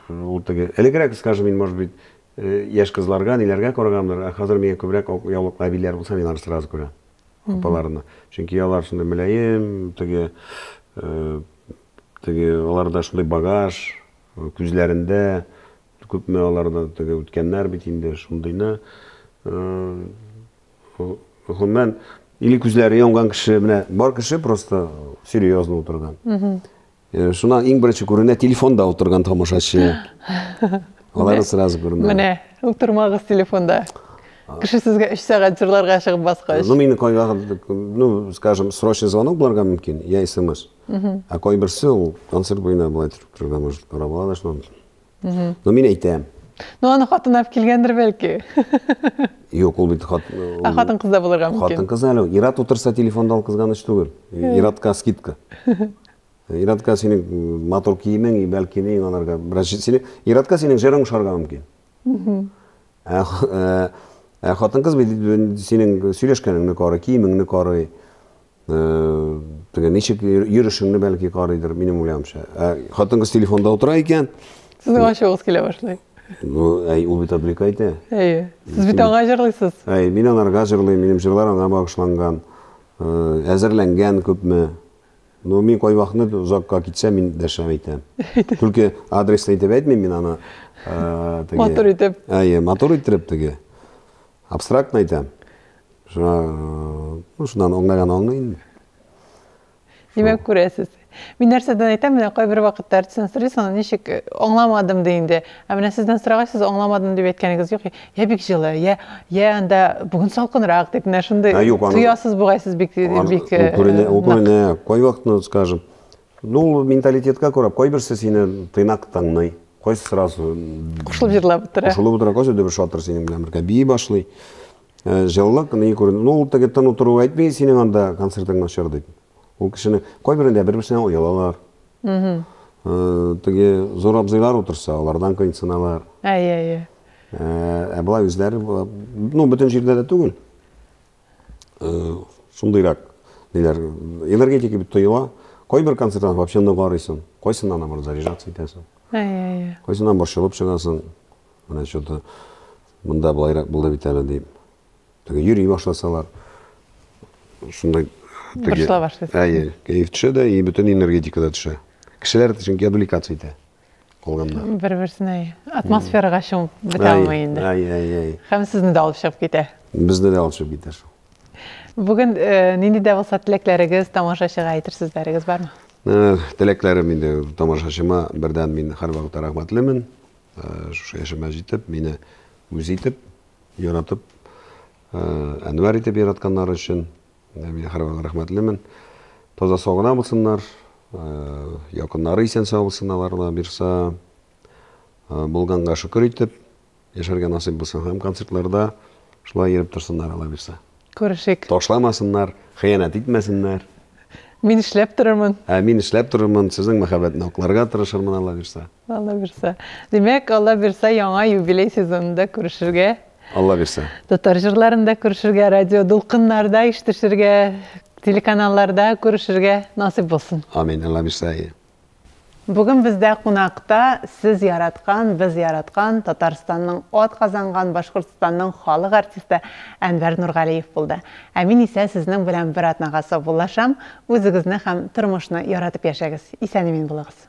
ул теге элегрәк, скажем, мин, может быть, э, яшь кызларга, ниләргә караганмдыр, ә хәзер миңа күбрәк ак яулыклы әбиләр булса, мин аларны сразу күрәм. Апаларны. Чөнки алар шундый мөлаем, теге э, теге аларда шундый багаж, э, күзләрендә күпме аларда теге үткәннәр бит инде, шундыйны. Э, Гомумән, или күзләре янган кеше, менә бар кеше просто серьезно утырган. Э, шуннан иң беренче күренә телефонда утырган тамашачы. Алар сразу күренә. Менә, утырмагыз телефонда. Кеше сезгә 3 сәгать җырларга чыгып баскач. Ну, мине кайга, ну, скажем, срочный звонок буларга мөмкин, я смс. Ә кайберсе ул концерт буена була торырга может, карап алалар шуннан. Но мин әйтәм. Ну, аны хатын алып килгәндер бәлки. Юк, ул бит хат. Ә хатын кызда булырга мөмкин. Хатын кыз әле. Ират утырса телефонда ул кызганыч түгел. Иратка скидка. Иратка синең мотор киемең, бәлки ни анарга бераз сине. Иратка синең җырың шарга мөмкин. Ә, ә хатын кыз бит синең сөйләшкәнеңне карый, киемеңне карый. Теге ничек йөрүшеңне бәлки карыйдыр, минем уйлавымча. Хатын-кыз телефонда утыра икән. Сезнең ачуыгыз килә башлый. Ну, әй, ул бит обрека итә. Әйе. Сез бит аңа җырлыйсыз. Әй, мин аңарга җырлыйм, минем җырлар аңа багышланган. Әзерләнгән күпме. Ну, мин кайвакытны озакка китсә, мин дәшә әйтәм. Түлке адресны әйтеп әйтмим мин аны. Матур итеп. Әйе, матур итеп теге. Абстрактно әйтәм. Шуннан аңлаган аңлый инде. Димәк, күрәсез. Мин нәрсәдән әйтәм, менә кайбер вакытта артистан сорыйсың, аны ничек э, аңламадым ди инде. Ә менә сездән сорагач, сез аңламадым дип әйткәнегез юк. Я бик җылы, я я анда бүген салкынрак дип менә шундый тоясыз бугай сез бик бик. Э, күренә, күренә. Кайвакытны, скажем, Ну, ул менталитетка күрә, кайберсе сине тыйнак тыңлый, кайсы сразу кушылып җырлап утыра. Кушылып утыра, кайсы дөбер шатыр синең белән бергә бии башлый. Э, җылылык ни күренде. Ну, ул теге тын утыру әйтми, синең анда концертың начар дип. Ул кешене кайберендә бер-берсенә оялалар. Угу. Э, теге зур абзыйлар утырса, алардан кыйнсыналар. Әйе, әйе. Ә, ә былай үзләре, ну, бөтен җирдә дә түгел. шундыйрак ниләр энергетика бит тоела кайбер концертларны вообще ныгарыйсың кайсына наоборот заряжаться итәсең кайсына борчылып чыгасың менә че то мында былайрак булды бит әле дип теге йөри башласалар шундай борчыла башлыйсың әйе кәеф төшә дә и бөтен энергетика да төшә кешеләр чөнки отвлекаться итә кылганда. Бер-берсенә атмосферага чумып бетә алмый инде. Әй, әй, әй. Һәм сезне дә алып чыгып китә. Безне дә алып чыгып китә шул. Бүген э, нинди дә булса теләкләрегез, тамашачыга әйтер сүзләрегез бармы? Э, теләкләрем инде тамашачыма бердән мин һәрвакыт рәхмәтлемен. Э, шушы яшемә җитеп, мине үз итеп, яратып, Әнвәр итеп яратканнары өчен. Мин һәрвакыт рәхмәтлемен. Таза-сау гына булсыннар, якыннары исән-сау булсын аларга бирса. Булганга шөкер итеп яшәргә насыйп булсын һәм концертларда шулай йөреп торсыннар алла бирса. Күрешик. Ташламасыннар, хыянәт итмәсеннәр. Мин эшләп торырмын. Ә мин эшләп торырмын, сезнең мәхәббәтне акларга тырышырмын алла бирса. Алла бирса. Димәк, алла бирса, яңа юбилей сезонында күрешергә. Алла бирсә. Татар җырларын да күрешергә, радио дулкыннарда ишетешергә, телеканалларда күрешергә насыйп булсын. Амин, Алла бирсә. Бүген бездә кунакта сез яраткан, без яраткан, Татарстанның ат казанган Башкортстанның халык артисты Әнвәр Нургалиев булды. Ә мин исә сезнең белән бер атнага саубуллашам, үзегезне һәм тормышны яратып яшәгез, исән-имин булыгыз.